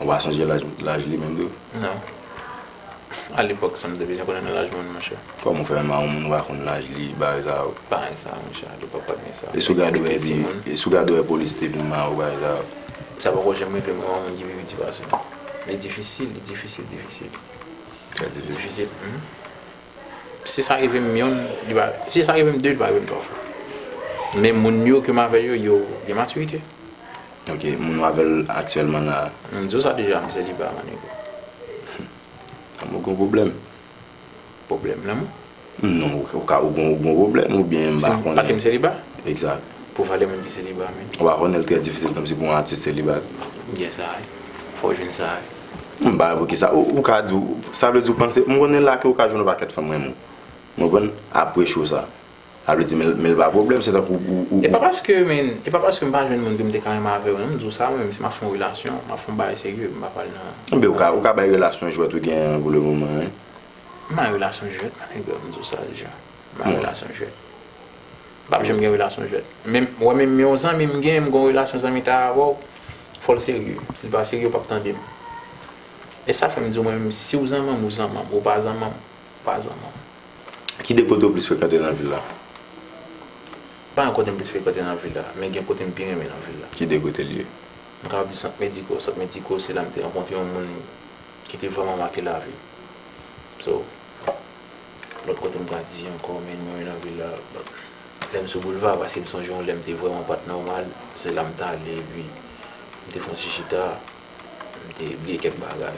Ou pa sonje laj li menm tou? Non. A lepòk sa m te bezwen konnen laj moun monchè. Kòman ou fè menm a yon moun ou pa konn laj li bagay sa yo? Bagay sa yo monchè a lepòk pat gen sa. E si w gade wè li, e si w gade wè polis te vin mare w bagay sa yo? Sa poko janm rive m wè yon moun ki pi piti pase m. Li difisil, li difisil, difisil. Sa difisil? Difisil. Si sa rive m yon, li pa, si sa rive m de, li pa rive m twa fwa. Men moun yo ke m avè l yo, yo gen matirite. Ok, moun ou avè l aktyèlman la a? M di w sa deja, m seliba ma nigga. Humm. Ou gen yon pwoblèm? Pwoblèm lanmou? Non, ou ka, ou gen yon pwoblèm oubyen m pa konnen. Pase m seliba? Egzat. Pou valè moun ki seliba menn. Ou pa konnen l trè difisil kòmsi pou yon atis seliba. Gen sa wi. Fò w jwenn sa wi. M pa wè poukisa ou ou ka di w sa vle di ou panse m konnen laki ou ka jwenn yon pakèt fanm renmen w ou konprann aprè show sa sa vle di men men l pa pwoblèm se tankou ou ou. E pa paske men e pa paske m pa jwenn moun ke m te ka renmen avè w non m di w sa mwen menm si m ap fè yon relasyon m ap fè yon bagay serye m pa pral nan. Enben ou ka ou ka bay relasyon jwèt ou gen an pou le moman wi. M pa nan relasyon jwèt ma nèg m di w sa deja m pa nan relasyon jwèt. M pap janm gen relasyon jwèt. Menm wè menm yon zanmi m gen m gon relasyon zanmitay avèw fòl serye sil pa serye ou pap tandem. E sa fèm diw mwen menm siw zanmanm ou zanmanm ou pa zanmanm ou pa zanmanm. Ki 2 kote ou plis frekante nan vil la? Pa gen kote m plis frekante nan vil la men gen kote m pi renmen nan vil la. Ki 2 kotel ye? M kapab di sant mediko, sant mediko se la m te rankontre yon moun ki te vrèman make lavim. So. Bon lòt kote m ta di ankò men mwen nan vil la lè m sou boulva paske m sonje yon lè m te vrèman pa t nòmal se la m t ale epi m te fè yon ti chita m te bliye kèk bagay.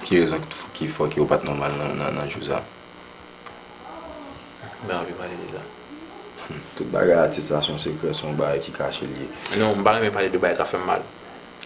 Ki rezon ki fè ke ou pa t nòmal nan jou sa? M pa anvi pale de sa. Tout bagay atis la se yon sekrè se yon bagay ki kache l ye. Non m pa renmen pale de bagay k ap fè m mal.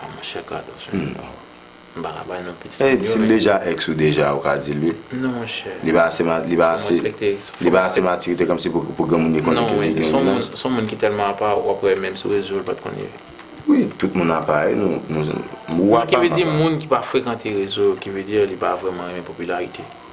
Ah monchè Carlos wi non m paka bay non pitit moun yo. Sil deja ex ou deja ou ka dil wi. Non monchè. Li pa ase li pa ase li pa ase matirite kòmsi pou granmoun li konnen ke li gen yon ex. Son moun ki tèlman apa wap wè menm sou rezo l pat konn li. Wi tout moun apa e nou ou apa m apa. Ki vle di moun ki pa frekante rezo yo ki vle di li pa vrèman renmen popilarite.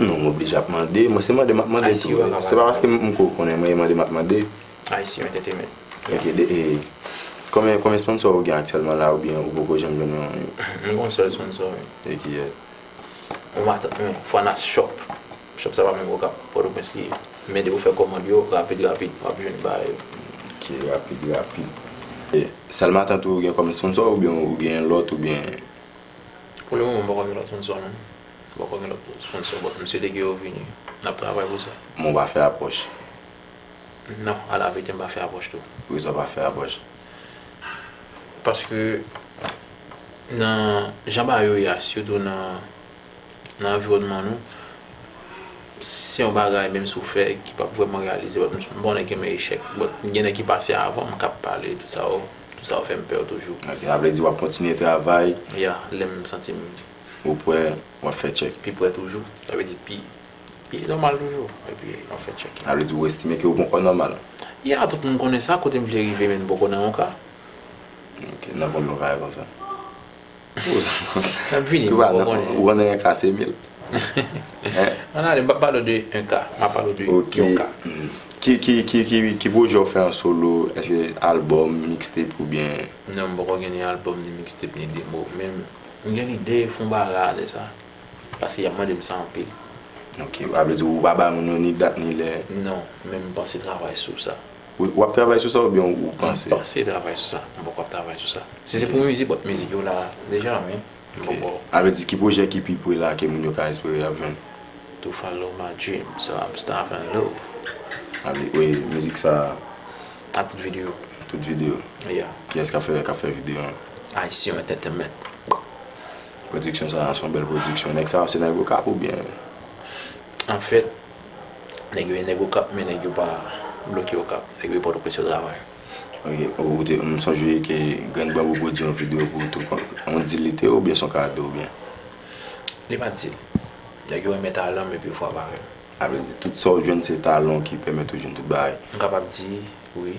Non m oblije ap mande, mwen se mande map mande tou wi, se pa paske m ko konnen mwen e mande map mande. ICU entertainment. Ok de e konbyen konbyen sponsor ou gen aktyèlman la oubyen ou poko janm jwenn yon yon. M gon sèl sponsor wi. E ki e? Mwen matant mwen fana shop, shop sa pa menm okap, pòtoprens li ye. Men depi ou fè kòmand yo rapid rapid wap jwenn bagay yo. Ok rapid rapid. E sèl matant ou gen kòm sponsor oubyen ou gen lòt oubyen? Pou le moman m poko gen lòt sponsor non. Ou poko gen lòt sponsor but m swete ke yo vini. N ap travay pou sa. Men w pa fè apwòch? Non, alaverite m pa fè apwòch tou. Poukisa w pa fè apwòch? Paske nan jan bagay yo ye a, sitou nan anviwònman nou, se yon bagay menm si w fè ki p ap vrèman reyalize but m pa konnen kenbe echèk. But gen nèg ki pase avan m k ap pale tout sa yo fè m pè yo toujou. Ok, sa vle di w ap kontinye travay? Ya, lè m santi m Ou prè, w ap fè tchèk. Pi prè toujou, sa vle di pi nòmal toujou. Epi, w ap fè tchèk. Sa vle di ou estime ke ou ponkò nòmal. Ya, tout moun konnen sa, kote m vle rive men m poko nan yon ka. Ok, nan konbyen ka e konsa? Nap vini, m poko konnen. Ou konnen yon ka se mil. An ale, m pa pale w de yon ka, m ap pale w de yon ka. Ok, ki pwojè ou fè an solo, èske albòm, mixtape oubyen? Non, m poko gen ni albòm, ni mixtape, ni demo. Men, M gen lide fon bagay ale sa. Paske yap mande m sa anpil. Ok, a vle di ou pa ba moun yo ni dat ni lè? Non, men m panse travay sou sa. Ou ap travay sou sa oubyen ou panse? M panse travay sou sa, m poko ap travay sou sa. Si se pou mizik, bon mizik yo la deja wi, m poko. A vle di ki pwojè ki pi pre la ke moun yo ka espere yap jwenn? To follow my dream, so I'm starve and love. A vle, e mizik sa? Ak tout videyo. Tout videyo? Yeah. Kiyès kap fè videyo an? Haitian Entertainment. Production sa son bel production. Neg sa yo se neg okap ou byen? En fait, neg yo e neg okap men neg yo pa bloke okap. Neg yo e Port-au-Prince yo travay. Ok, ou te, m sonje ke Grann Bambou pwodui yon video pou ou tou. On deal li te ou byen son kado ou byen? Li pa deal. Neg yo renmen talan m epi yo fwa avèk m. A vle di tout sa ou jwenn se talan w ki pèmèt ou jwenn tout bagay. M kapab di wi.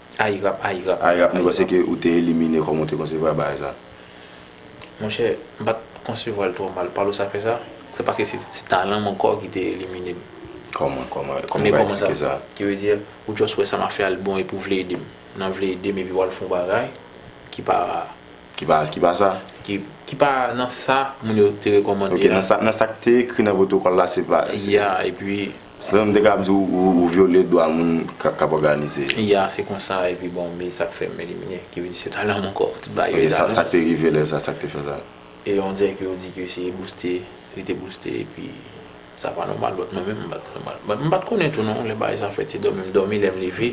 Ayi rap ayi rap. Ayi rap nou panse ke ou te elimine kòman ou te konsevwa bagay sa. Monchè m pat konsevwal twò mal palo sa fè sa se paske se se talanm ankò ki te elimine m. Kòman kòman kòman ou ka eksplike sa. Ki vle di ou just wè sa map fè a li bon epi ou vle edem nan vle edem epi wal fon bagay ki pa Ki pa, ki pa sa? Ki, ki pa nan sa moun yo te rekòmande a. Ok, nan sa, nan sa k te ekri nan pwotokòl la se pa. Ya, epi. Se tankou m te kab di w, ou vyole dwa moun k ap òganize yo. Ya, se konsa, epi bon, me sa k fè m elimine, ki vle di se talan m ankò, te ba yo talan. Ok, sa k te rive lè sa, sa k te fè sa? E on dirè ke yo di ke se bouste, li te bouste, epi. Sa pa nòmal but mwen menm m bat nòmal but m pat konnen tou non lè bagay sa fèt se dòmi m dòmi lèm leve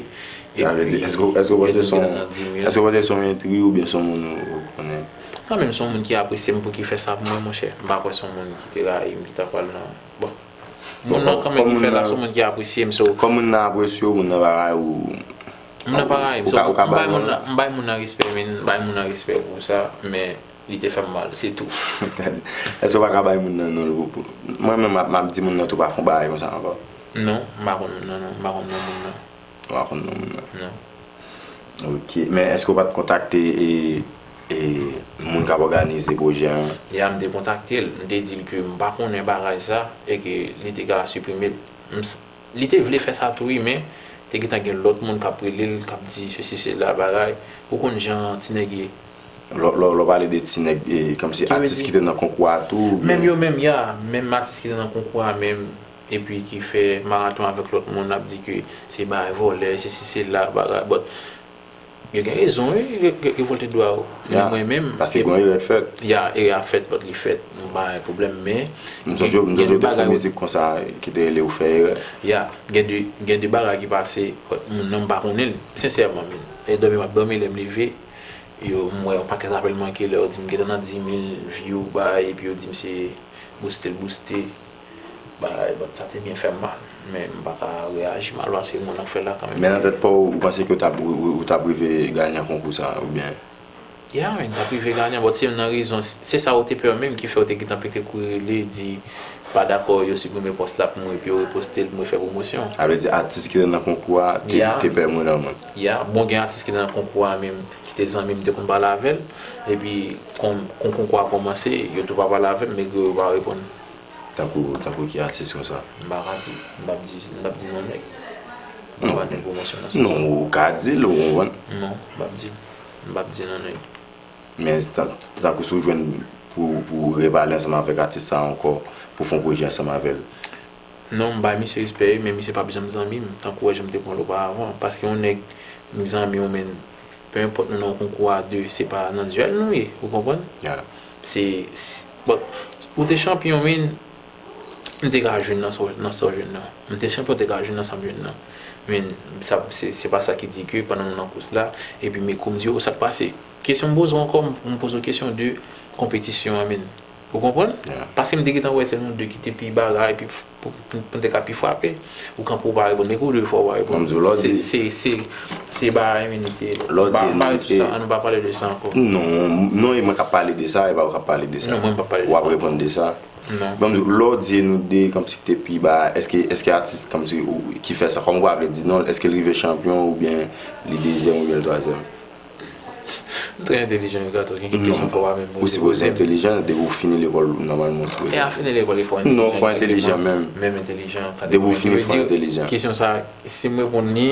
epi eske w panse son eske w panse son entri oubyen son moun ou konnen? Mwen menm son moun ki apresye m pouki fè sa pou mwen monchè m pa kwè son moun ki te rayi m ki ta pral nan bon moun nan kan menm ki fèl la son moun ki apresye m so kòm moun nan apresye w moun nan pa rayi w moun nan pa rayi m m bay moun nan respè men m bay moun nan respè pou sa men. Li te fèm mal se tou. Eske ou pa ka bay moun nan non l pou. Mwen menm m ap di moun nan tou pa fon bagay konsa ankò. Non m pa konn non non m pa konn non moun nan. Ou pa konn non moun nan. Non. Ok men eske ou pat kontakte e moun kap òganize pwojè an. Ya m te kontakte l m te di l ke m pa konnen bagay sa e ke li te ka siprime l. Li te vle fè sa tou wi men te gentan gen lòt moun kap rele l kap di sesi sela bagay ou konn jan ti nèg ye. Lè w pale de ti nèg e kòmsi atis ki te nan konkou a tou ou byen. Menm yo menm ya menm atis ki te nan konkou a menm epi ki fè maraton avèk lòt moun ap di ke se bagay vòlè sesi sela bagay but Yo gen rezon wi revolte dwa yo men mwen menm paske gon erè k fèt ya erè a fèt but li fèt nou pa gen pwoblèm men m sonje yo m sonje yo te fè mizik konsa ki te rele ou fè erè ya gen de gen de bagay ki pase but moun nan m pa konnen l sensèman min e dòmi m ap dòmi lè m leve yo m wè yon pakèt apèl manke lè yo di m gentan nan dimil view bay epi yo di m se booste l booste. Bagay band sa te byen fèm mal men m paka reyaji mal paske moun nan k fèl la kanmenm se. Men nan tèt paw ou panse ke ou tap rive ganyan konkou sa ou byen? Ya wi m tap rive ganyan but se youn nan rezon se sa ou te pè menm ki fèw te gentan pete kouri rele di pa dakò yo siprime pòs la pou mwen epi yo repostel pou mwen fè pwomosyon. Sa vle di atis ki te nan konkou a te pè moun an moun? Ya bon gen atis ki te nan konkou a menm ki te zanmim m te konn pale avèl epi kon konkou a komanse yo tou pa pale avèm megre yo pa reponn. Tankou tankou ki atis konsa? M pa ka di, m pap di, m pap di non nèg. M pa fè pwomosyon nan sans sa. Non, ou ka di l, ou konprann. Non, m pap di l. M pap di non nèg. Men, tankou si w jwenn pou ou repale ansanm avèk atis sa ankò, pou w fè yon pwojè ansanm avè l. Non, m bay misye respè wi, men misye pap janm zanmi m, tankou wè jan m te pran l oparàvan. Paske yon nèg m zanmi w men Peu importe nou nan konkou a 2 se pa nan duel nou ye ou konprann se bon ou te chanpyon min m te ka jwenn nan sa w jwenn nan m te chanpyon m te ka jwenn nan sa m jwenn nan min se pa sa ki di ke pandan nou nan kous la epi me kou m di w sa k pase kesyon m poze w ankò m poze w kesyon de konpetisyon an min ou konprann paske m te gentan wè se nou 2 ki te pi bagay Pou m te ka pi frape. Ou kanpe ou pa reponn. Men kou ou leve fò ou pa reponn. Kòm m di w lè w di. Se se se ba iminite. Lè w di iminite. An nou pa pale sou sa. An nou pa pale de sa ankò. Non. Non e mwen k ap pale de sa e pa ou k ap pale de sa. Non mwen m p ap pale de sa. Ou ap reponn de sa. Non. Kòm m di w lè w di e nou de kanm si k te pi ba èske èske atis kanm si ki fè sa kòm kwa vle di non èske l rive chanpyon oubyen li dezyèm oubyen l twazyèm. Trè entelijan yo gato gen kèk kesyon fò pa menm oze poze. Ou sipoze entelijan depi ou fini lekòl nòmalman ou sipoze. E a fini lekòl e fò entelijan. Non fò entelijan menm. Menm entelijan. Depi ou fini fò entelijan. Kesyon sa sim reponn li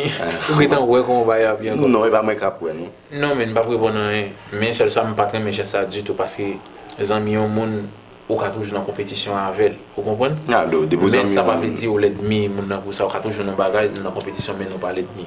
ou gentan wè kòman bagay la ap ye ankò. Non e pa mwen kap wè non. Non men mpap reponn anyen men sèl sa mpat renmen jès sa ditou paske zanmi yon moun ou ka toujou nan konpetisyon avèl ou konprann. Men sa pa vle di ou lèdmi moun nan pou sa ou ka toujou nan bagay nou nan konpetisyon men nou pa lèdmi.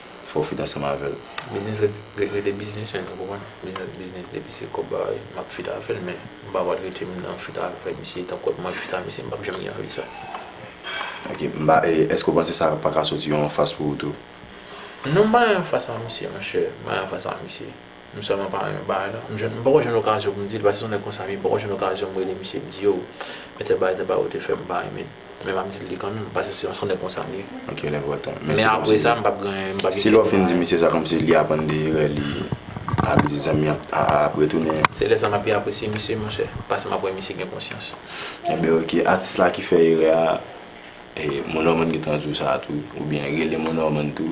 fòw fit ansanm avèl. Biznis ret rete biznis menn ou konprann biznis ret biznis depi se kòb bagay map fit avèl men mpa pral rete m nan fit avè misye tankou ap manje fit a misye mpap janm gen anvi sa. Ok mpa èske ou panse sa paka soti yon anfas pou ou tou? Non mpa yon anfas a misye monchè mpa yon anfas a misye M sèlman pa renmen bagay la. M jwenn, m poko jwenn okazyon pou m di l, paske se yon nèg konsa vye, m poko jwenn okazyon m rele misye m di yo, men tèl bagay tèl bagay ou te fè m pa renmen l. Men m ap di l li kanmenm, paske se yon nèg konsa m ye. Ok, l enpòtan. Men apre sa, m p ap gen, m p ap gen kèk bagay. Si lè w fin di misye sa, kòmsi li aprann de erè li, sa vle di zanmi an ap retounen. Se lè sa m ap pi apresye misye, monchè, paske m ap wè misye gen konsyans. Enben ok, atis la ki fè erè a, Mon Norman gen tan di w sa tou, oubyen rele Mon Norman tou.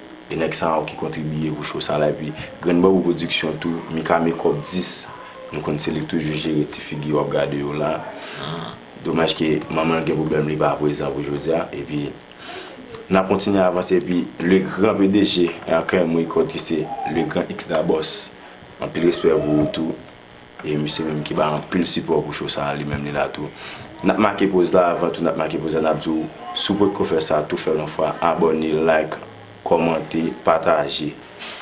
E nèg sa yo ki kontribiye pou show sa la epi grenn bambou production tou mika mekòp 10 nou konn se li k toujou jere ti figi wap gade yo la domaj ke manmanl gen problèm li pa prezan pou jodia epi nap kontinye avanse epi le gran pdg RKM record ki se le gran X-Dabòs anpil respè pou ou tou E misye menm ki bay anpil sipò pou show sa a li menm li la tou. Nap make poz la avan tou nap make poz la nap di w si w potko fè sa tou fè l yon fwa abòne like kòmante pataje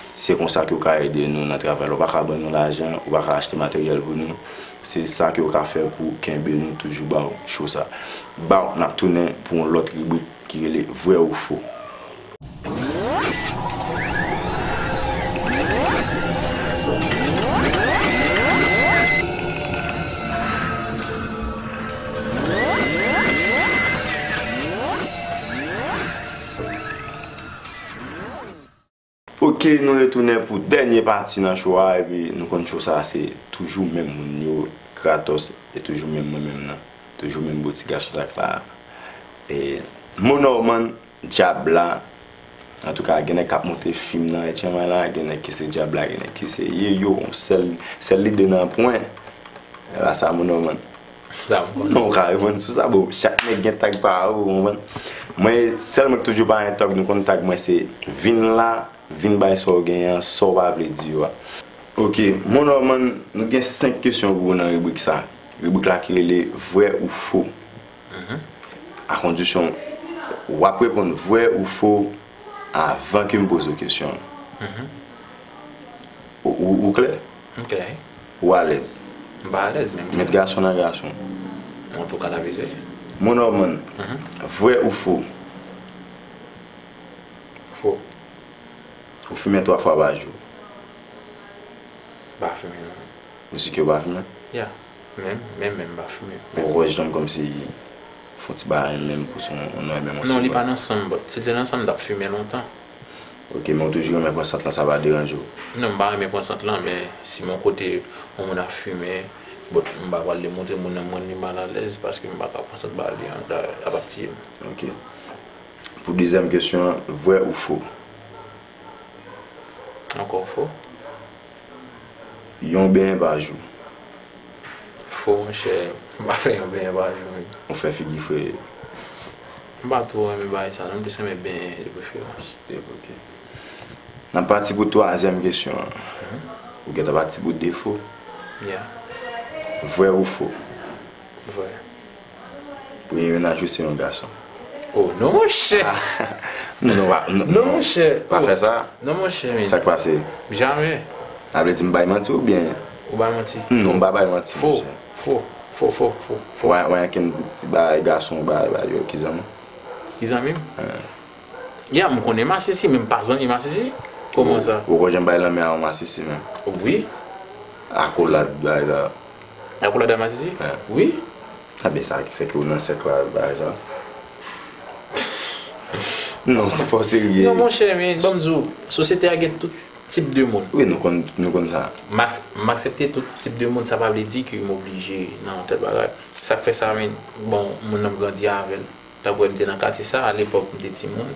se konsa ke w ka ede nou nan travay la w pa ka ban nou lajan ou pa ka achte materyèl pou nou se sa ke w ka fè pou kenbe nou toujou ba w show sa. Baww nap tounen pou yon lòt ribrik ki rele vrè ou fo. Ok nou retounen pou dènye pati nan show a epi nou konn show sa se toujou menm moun yo Kratos e toujou menm mwen menm nan toujou menm bo ti gason sak la e Monorman Djab la Antouka gen nèg kap moute fim nan etchenman la gen nèg ki se djab la gen nèg ki se ye yo sèl sèl lide nan pwen la sa moun yo man non ou ka reponn sou sa bon chak nèg gen tag pa yo ou konprann mwen sèl mwen ki toujou pa yon tag nou konn tag mwen se vin la vin bay sa ou genyen an sa ou pa vle di yo a. Ok mon Norman nou gen 5 kesyon pou ou nan ribrik sa ribrik la ki rele vrè ou fo A kondisyon w ap reponn vwè ou fo avan ke m poze w kesyon an. Ou klè? M klè. Ou alèz? M pa alèz men m klè. Met gason nan gason. An tou ka n ap eseye. Mo Nòman, vwè ou fo? Fo. Ou fimen twa fwa pa jou? M pa fimen non. Misik yo pa fimen? Yeah, men men men pa fimen. Bon vwa jdan m komsi fon ti bagay an menm pou son an nan menm an se vwa. Non li pa nan sanm but si l te nan sanm m tap fimen lontan. Ok men ou toujou renmen pran sant lan sa pa deranje w? Non m pa renmen pran sant lan men si mon kote yon moun ap fimen but m pa pral demontre moun nan m rann li mal alèz paske m paka pran sant ba li an dayè lap ap tiye m. Ok pou dezyèm kesyon an vwè ou fo Ankò fo. Yon benyen pa jou. Fo monchè, m pa fè yon benyen pa jou menm. Ou fè figi free. M pa two renmen bagay sa non, m plis renmen benyen de preferans. N ap pati pou twazyèm kesyon an. Ou gentan pati pou defo. Vrè ou fo? Vrè. Premye menaj ou se yon gason. Oh non monchè. Non pa non monchè. Pa fè sa. Non monchè men. Sak pase? Jamè. Sa vle di m bay manti ou byen? Ou bay manti. Non m pa bay manti monchè. Fo. Fo. Fo. Fo. Fo. Ou an ken ti bagay gason ou bay bay yo ki zanmi w? Ki zanmi m? Ya m konnen masisi men m pa zanmi masisi. Koman sa? Ou poko janm bay lanmen a yon masisi menm? Wi. Akolad bagay sa yo. Ak ou la da masisi? Wi. A ben sa se ke ou nan sèk la ba jan. Non se fò serye. Non monchè men banm di w sosyete a gen tout tip de moun. Wi nou konn nou konn sa. M aksepte tout tip de moun sa pa vle di ke m oblije nan yon tèl bagay. Sa k fè sa men bon moun nan m grandi avè l. Daprè m te nan katye sa a lepòk m te timoun.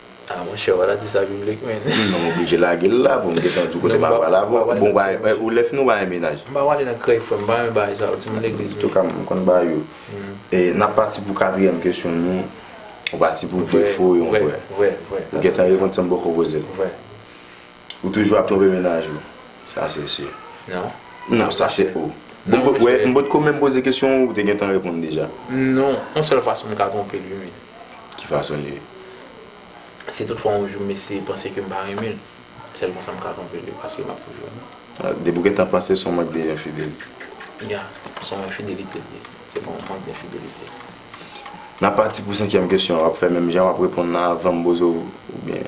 Ah monchè wala di sa biblik men. Mwen oblije lage l la pou m gentan di w kote m apral avè w. Bon bagay, ou lè fini w ba mwen mennaj. M pa pwale nan krèy frè m, m pa renmen bagay sa yo, timoun legliz m yo. Antouka m konn ba yo. N ap pati pou katriyèm kesyon nou, ou pati pou defo yon frè. Vrè, vrè, vrè. Ou gentan reponn san m poko poze l. Vrè. Ou toujou ap twonpe mennaj ou. Sa se si. Non. Non, sa se ou. Non, mesye. Ou wè, m potko menm poze kesyon ou, ou te gentan reponn deja. Non. On sèl fason m ka twonpe l, wi men. Ki fason li ye? Si tout fwa on jou m eseye panse ke m pa renmen l, sèl konsa m ka twonpe l, wi, paske m ap toujou renmen l. A, depi ou gentan panse se yon mank de enfidelite. Ya. Se yon enfidelite li ye. Se pa yon mank denfidelite. N ap pati pou senkyèm kesyon an. W ap fè menm jan w ap reponn la avan m poze w oubyen?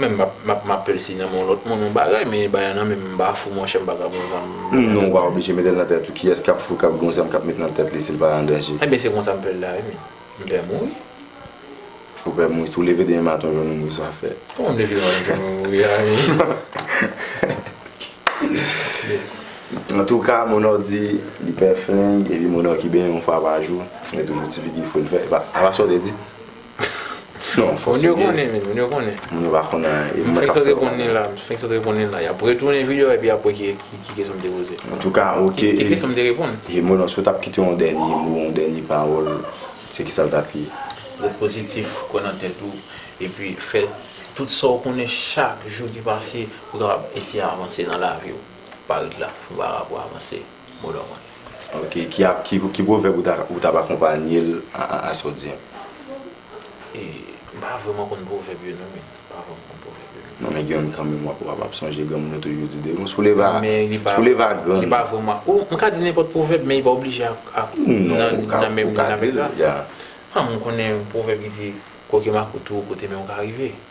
Men map mapel si nan men yon lot moun yon bagay men bagay nan menm mpa fou monchè mpa ka pran zam nan men. Non ou pa oblije metel nan tèt ou kiyès kap fou kap gen yon zam kap met nan tèt li sil pa andanje. Ebyen se konsa mpèl la wi men mpè mouri. Ou pè mouri si ou leve demen maten ou jwenn ou mouri sa fè. Kòman m leve demen maten m jwenn mwen mouri a men. Antouka monò di li pè fling epi monò ki benyen yon fwa pa jou gen toujou ti figi foun fè epa sa w te di. Non, fòs yo gen. Moun yo konnen. Moun yo pa konnen anyen. E mwen k ap fè yo konnen. M fenk sot reponn li la. Y ap retounen vide yo epi y ap wè ki kesyon m te poze. Antouka, ok. Ki kesyon m te reponn? E mwen lan, si w t ap kite yon dènye mo, yon dènye pawòl, se kisa l t ap ye? Ret pozitif, kwè nan tèt ou, epi fè tout sa w konnen chak jou ki pase pou w kapab eseye avanse nan lavi w. Pa ret la. Fè bagay pou w avanse. Ok ki pwovèb ou tap akonpanye l a sa w di an? M pa vrèman konn pwovèb yo non men. Non men gen youn kanmenm wap ap sonje granmoun yo toujou di de bon sou leva sou leva grann. Li pa vrèman ou m ka di nenpòt pwovèb men li pa oblije ak nan menm nan menm sa. M konnen yon pwovèb ki di koke makout ou kote men w ka rive.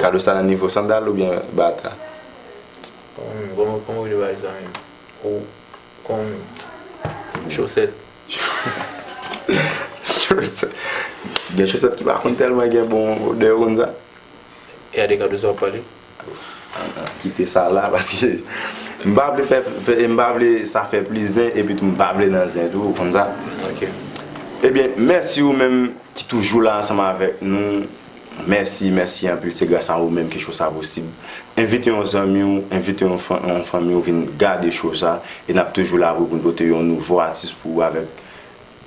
Kado sa nan nivo sandal oubyen bata? Kòman w rele bagay sa menm? Chosèt. Chosèt. Gen chosèt ki pa konn tèlman gen bon odè ou konn sa? E a de kado sa w ap pale? Kite sa la paske m pa vle fè e m pa vle sa fè plis zen epitou m pa vle nan zen tou ou konn sa. Ok. Ebyen mèsi ou menm ki toujou la ansanm avèk nou. Mèsi, mèsi anpil se gras a ou menm ke show sa posib. Envite yon zanmi w, envite yon fanmi w vin gade show sa e nap toujou la pou nou pote yon nouvo atis pou ou avèk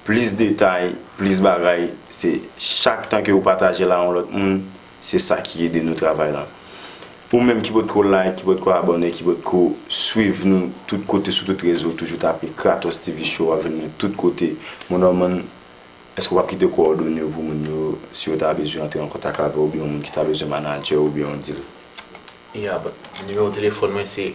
plis detay, plis bagay, se chak tan ke ou pataje l a yon lòt moun se sa ki ede nou travay la. Ou menm ki potko like, ki potko abòne, ki potko swiv nou tout kote sou tout rezo toujou tape Kratos TV show wap jwenn nou tout kote. Mon Norman Èske w ap kite kowòdone yo pou moun yo si yo ta bezwen antre an kontak avè w oubyen yon moun ki ta bezwen manadjè w oubyen yon dil? Yab, Nimewo telefòn mwen se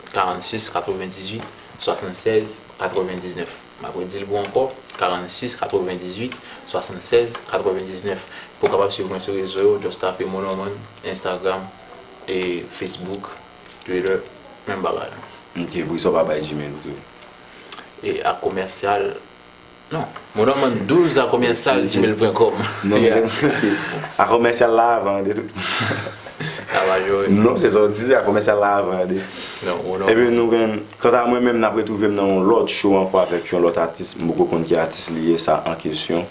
46 98 76 99. M ap redi l pou w ankò, 46 98 76 99. Pou w kapab suiv mwen sou rezo yo, just tape Mo Normand, Instagram, e Facebook, Twitter, menm bagay la. Ok, poukisa w pa bay Gmail ou tou? E ak komèsyal. Mon an man 12 a komersal gmail pwen kòm A komersal la avan de tout Non se sa w di a komersal la avan de Epi nou gen kanta mwen menm nap retwouve m nan yon lòt show ankò avèk yon lòt atis m poko konn ki atis li ye sa an kesyon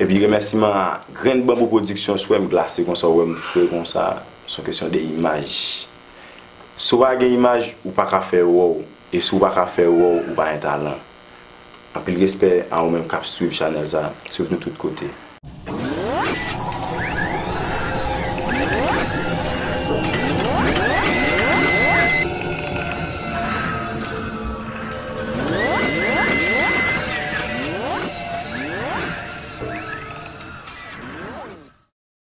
Epi remèsiman a grenn banbou pwodiksyon si w wè m glase konsa w wè m fre konsa se yon kesyon de imaj Si w pa gen imaj ou paka fè wòw e si w paka fè wòw ou pa gen talan. Anpil respè a ou menm kap swiv chanèl sa, swiv nou tout kote.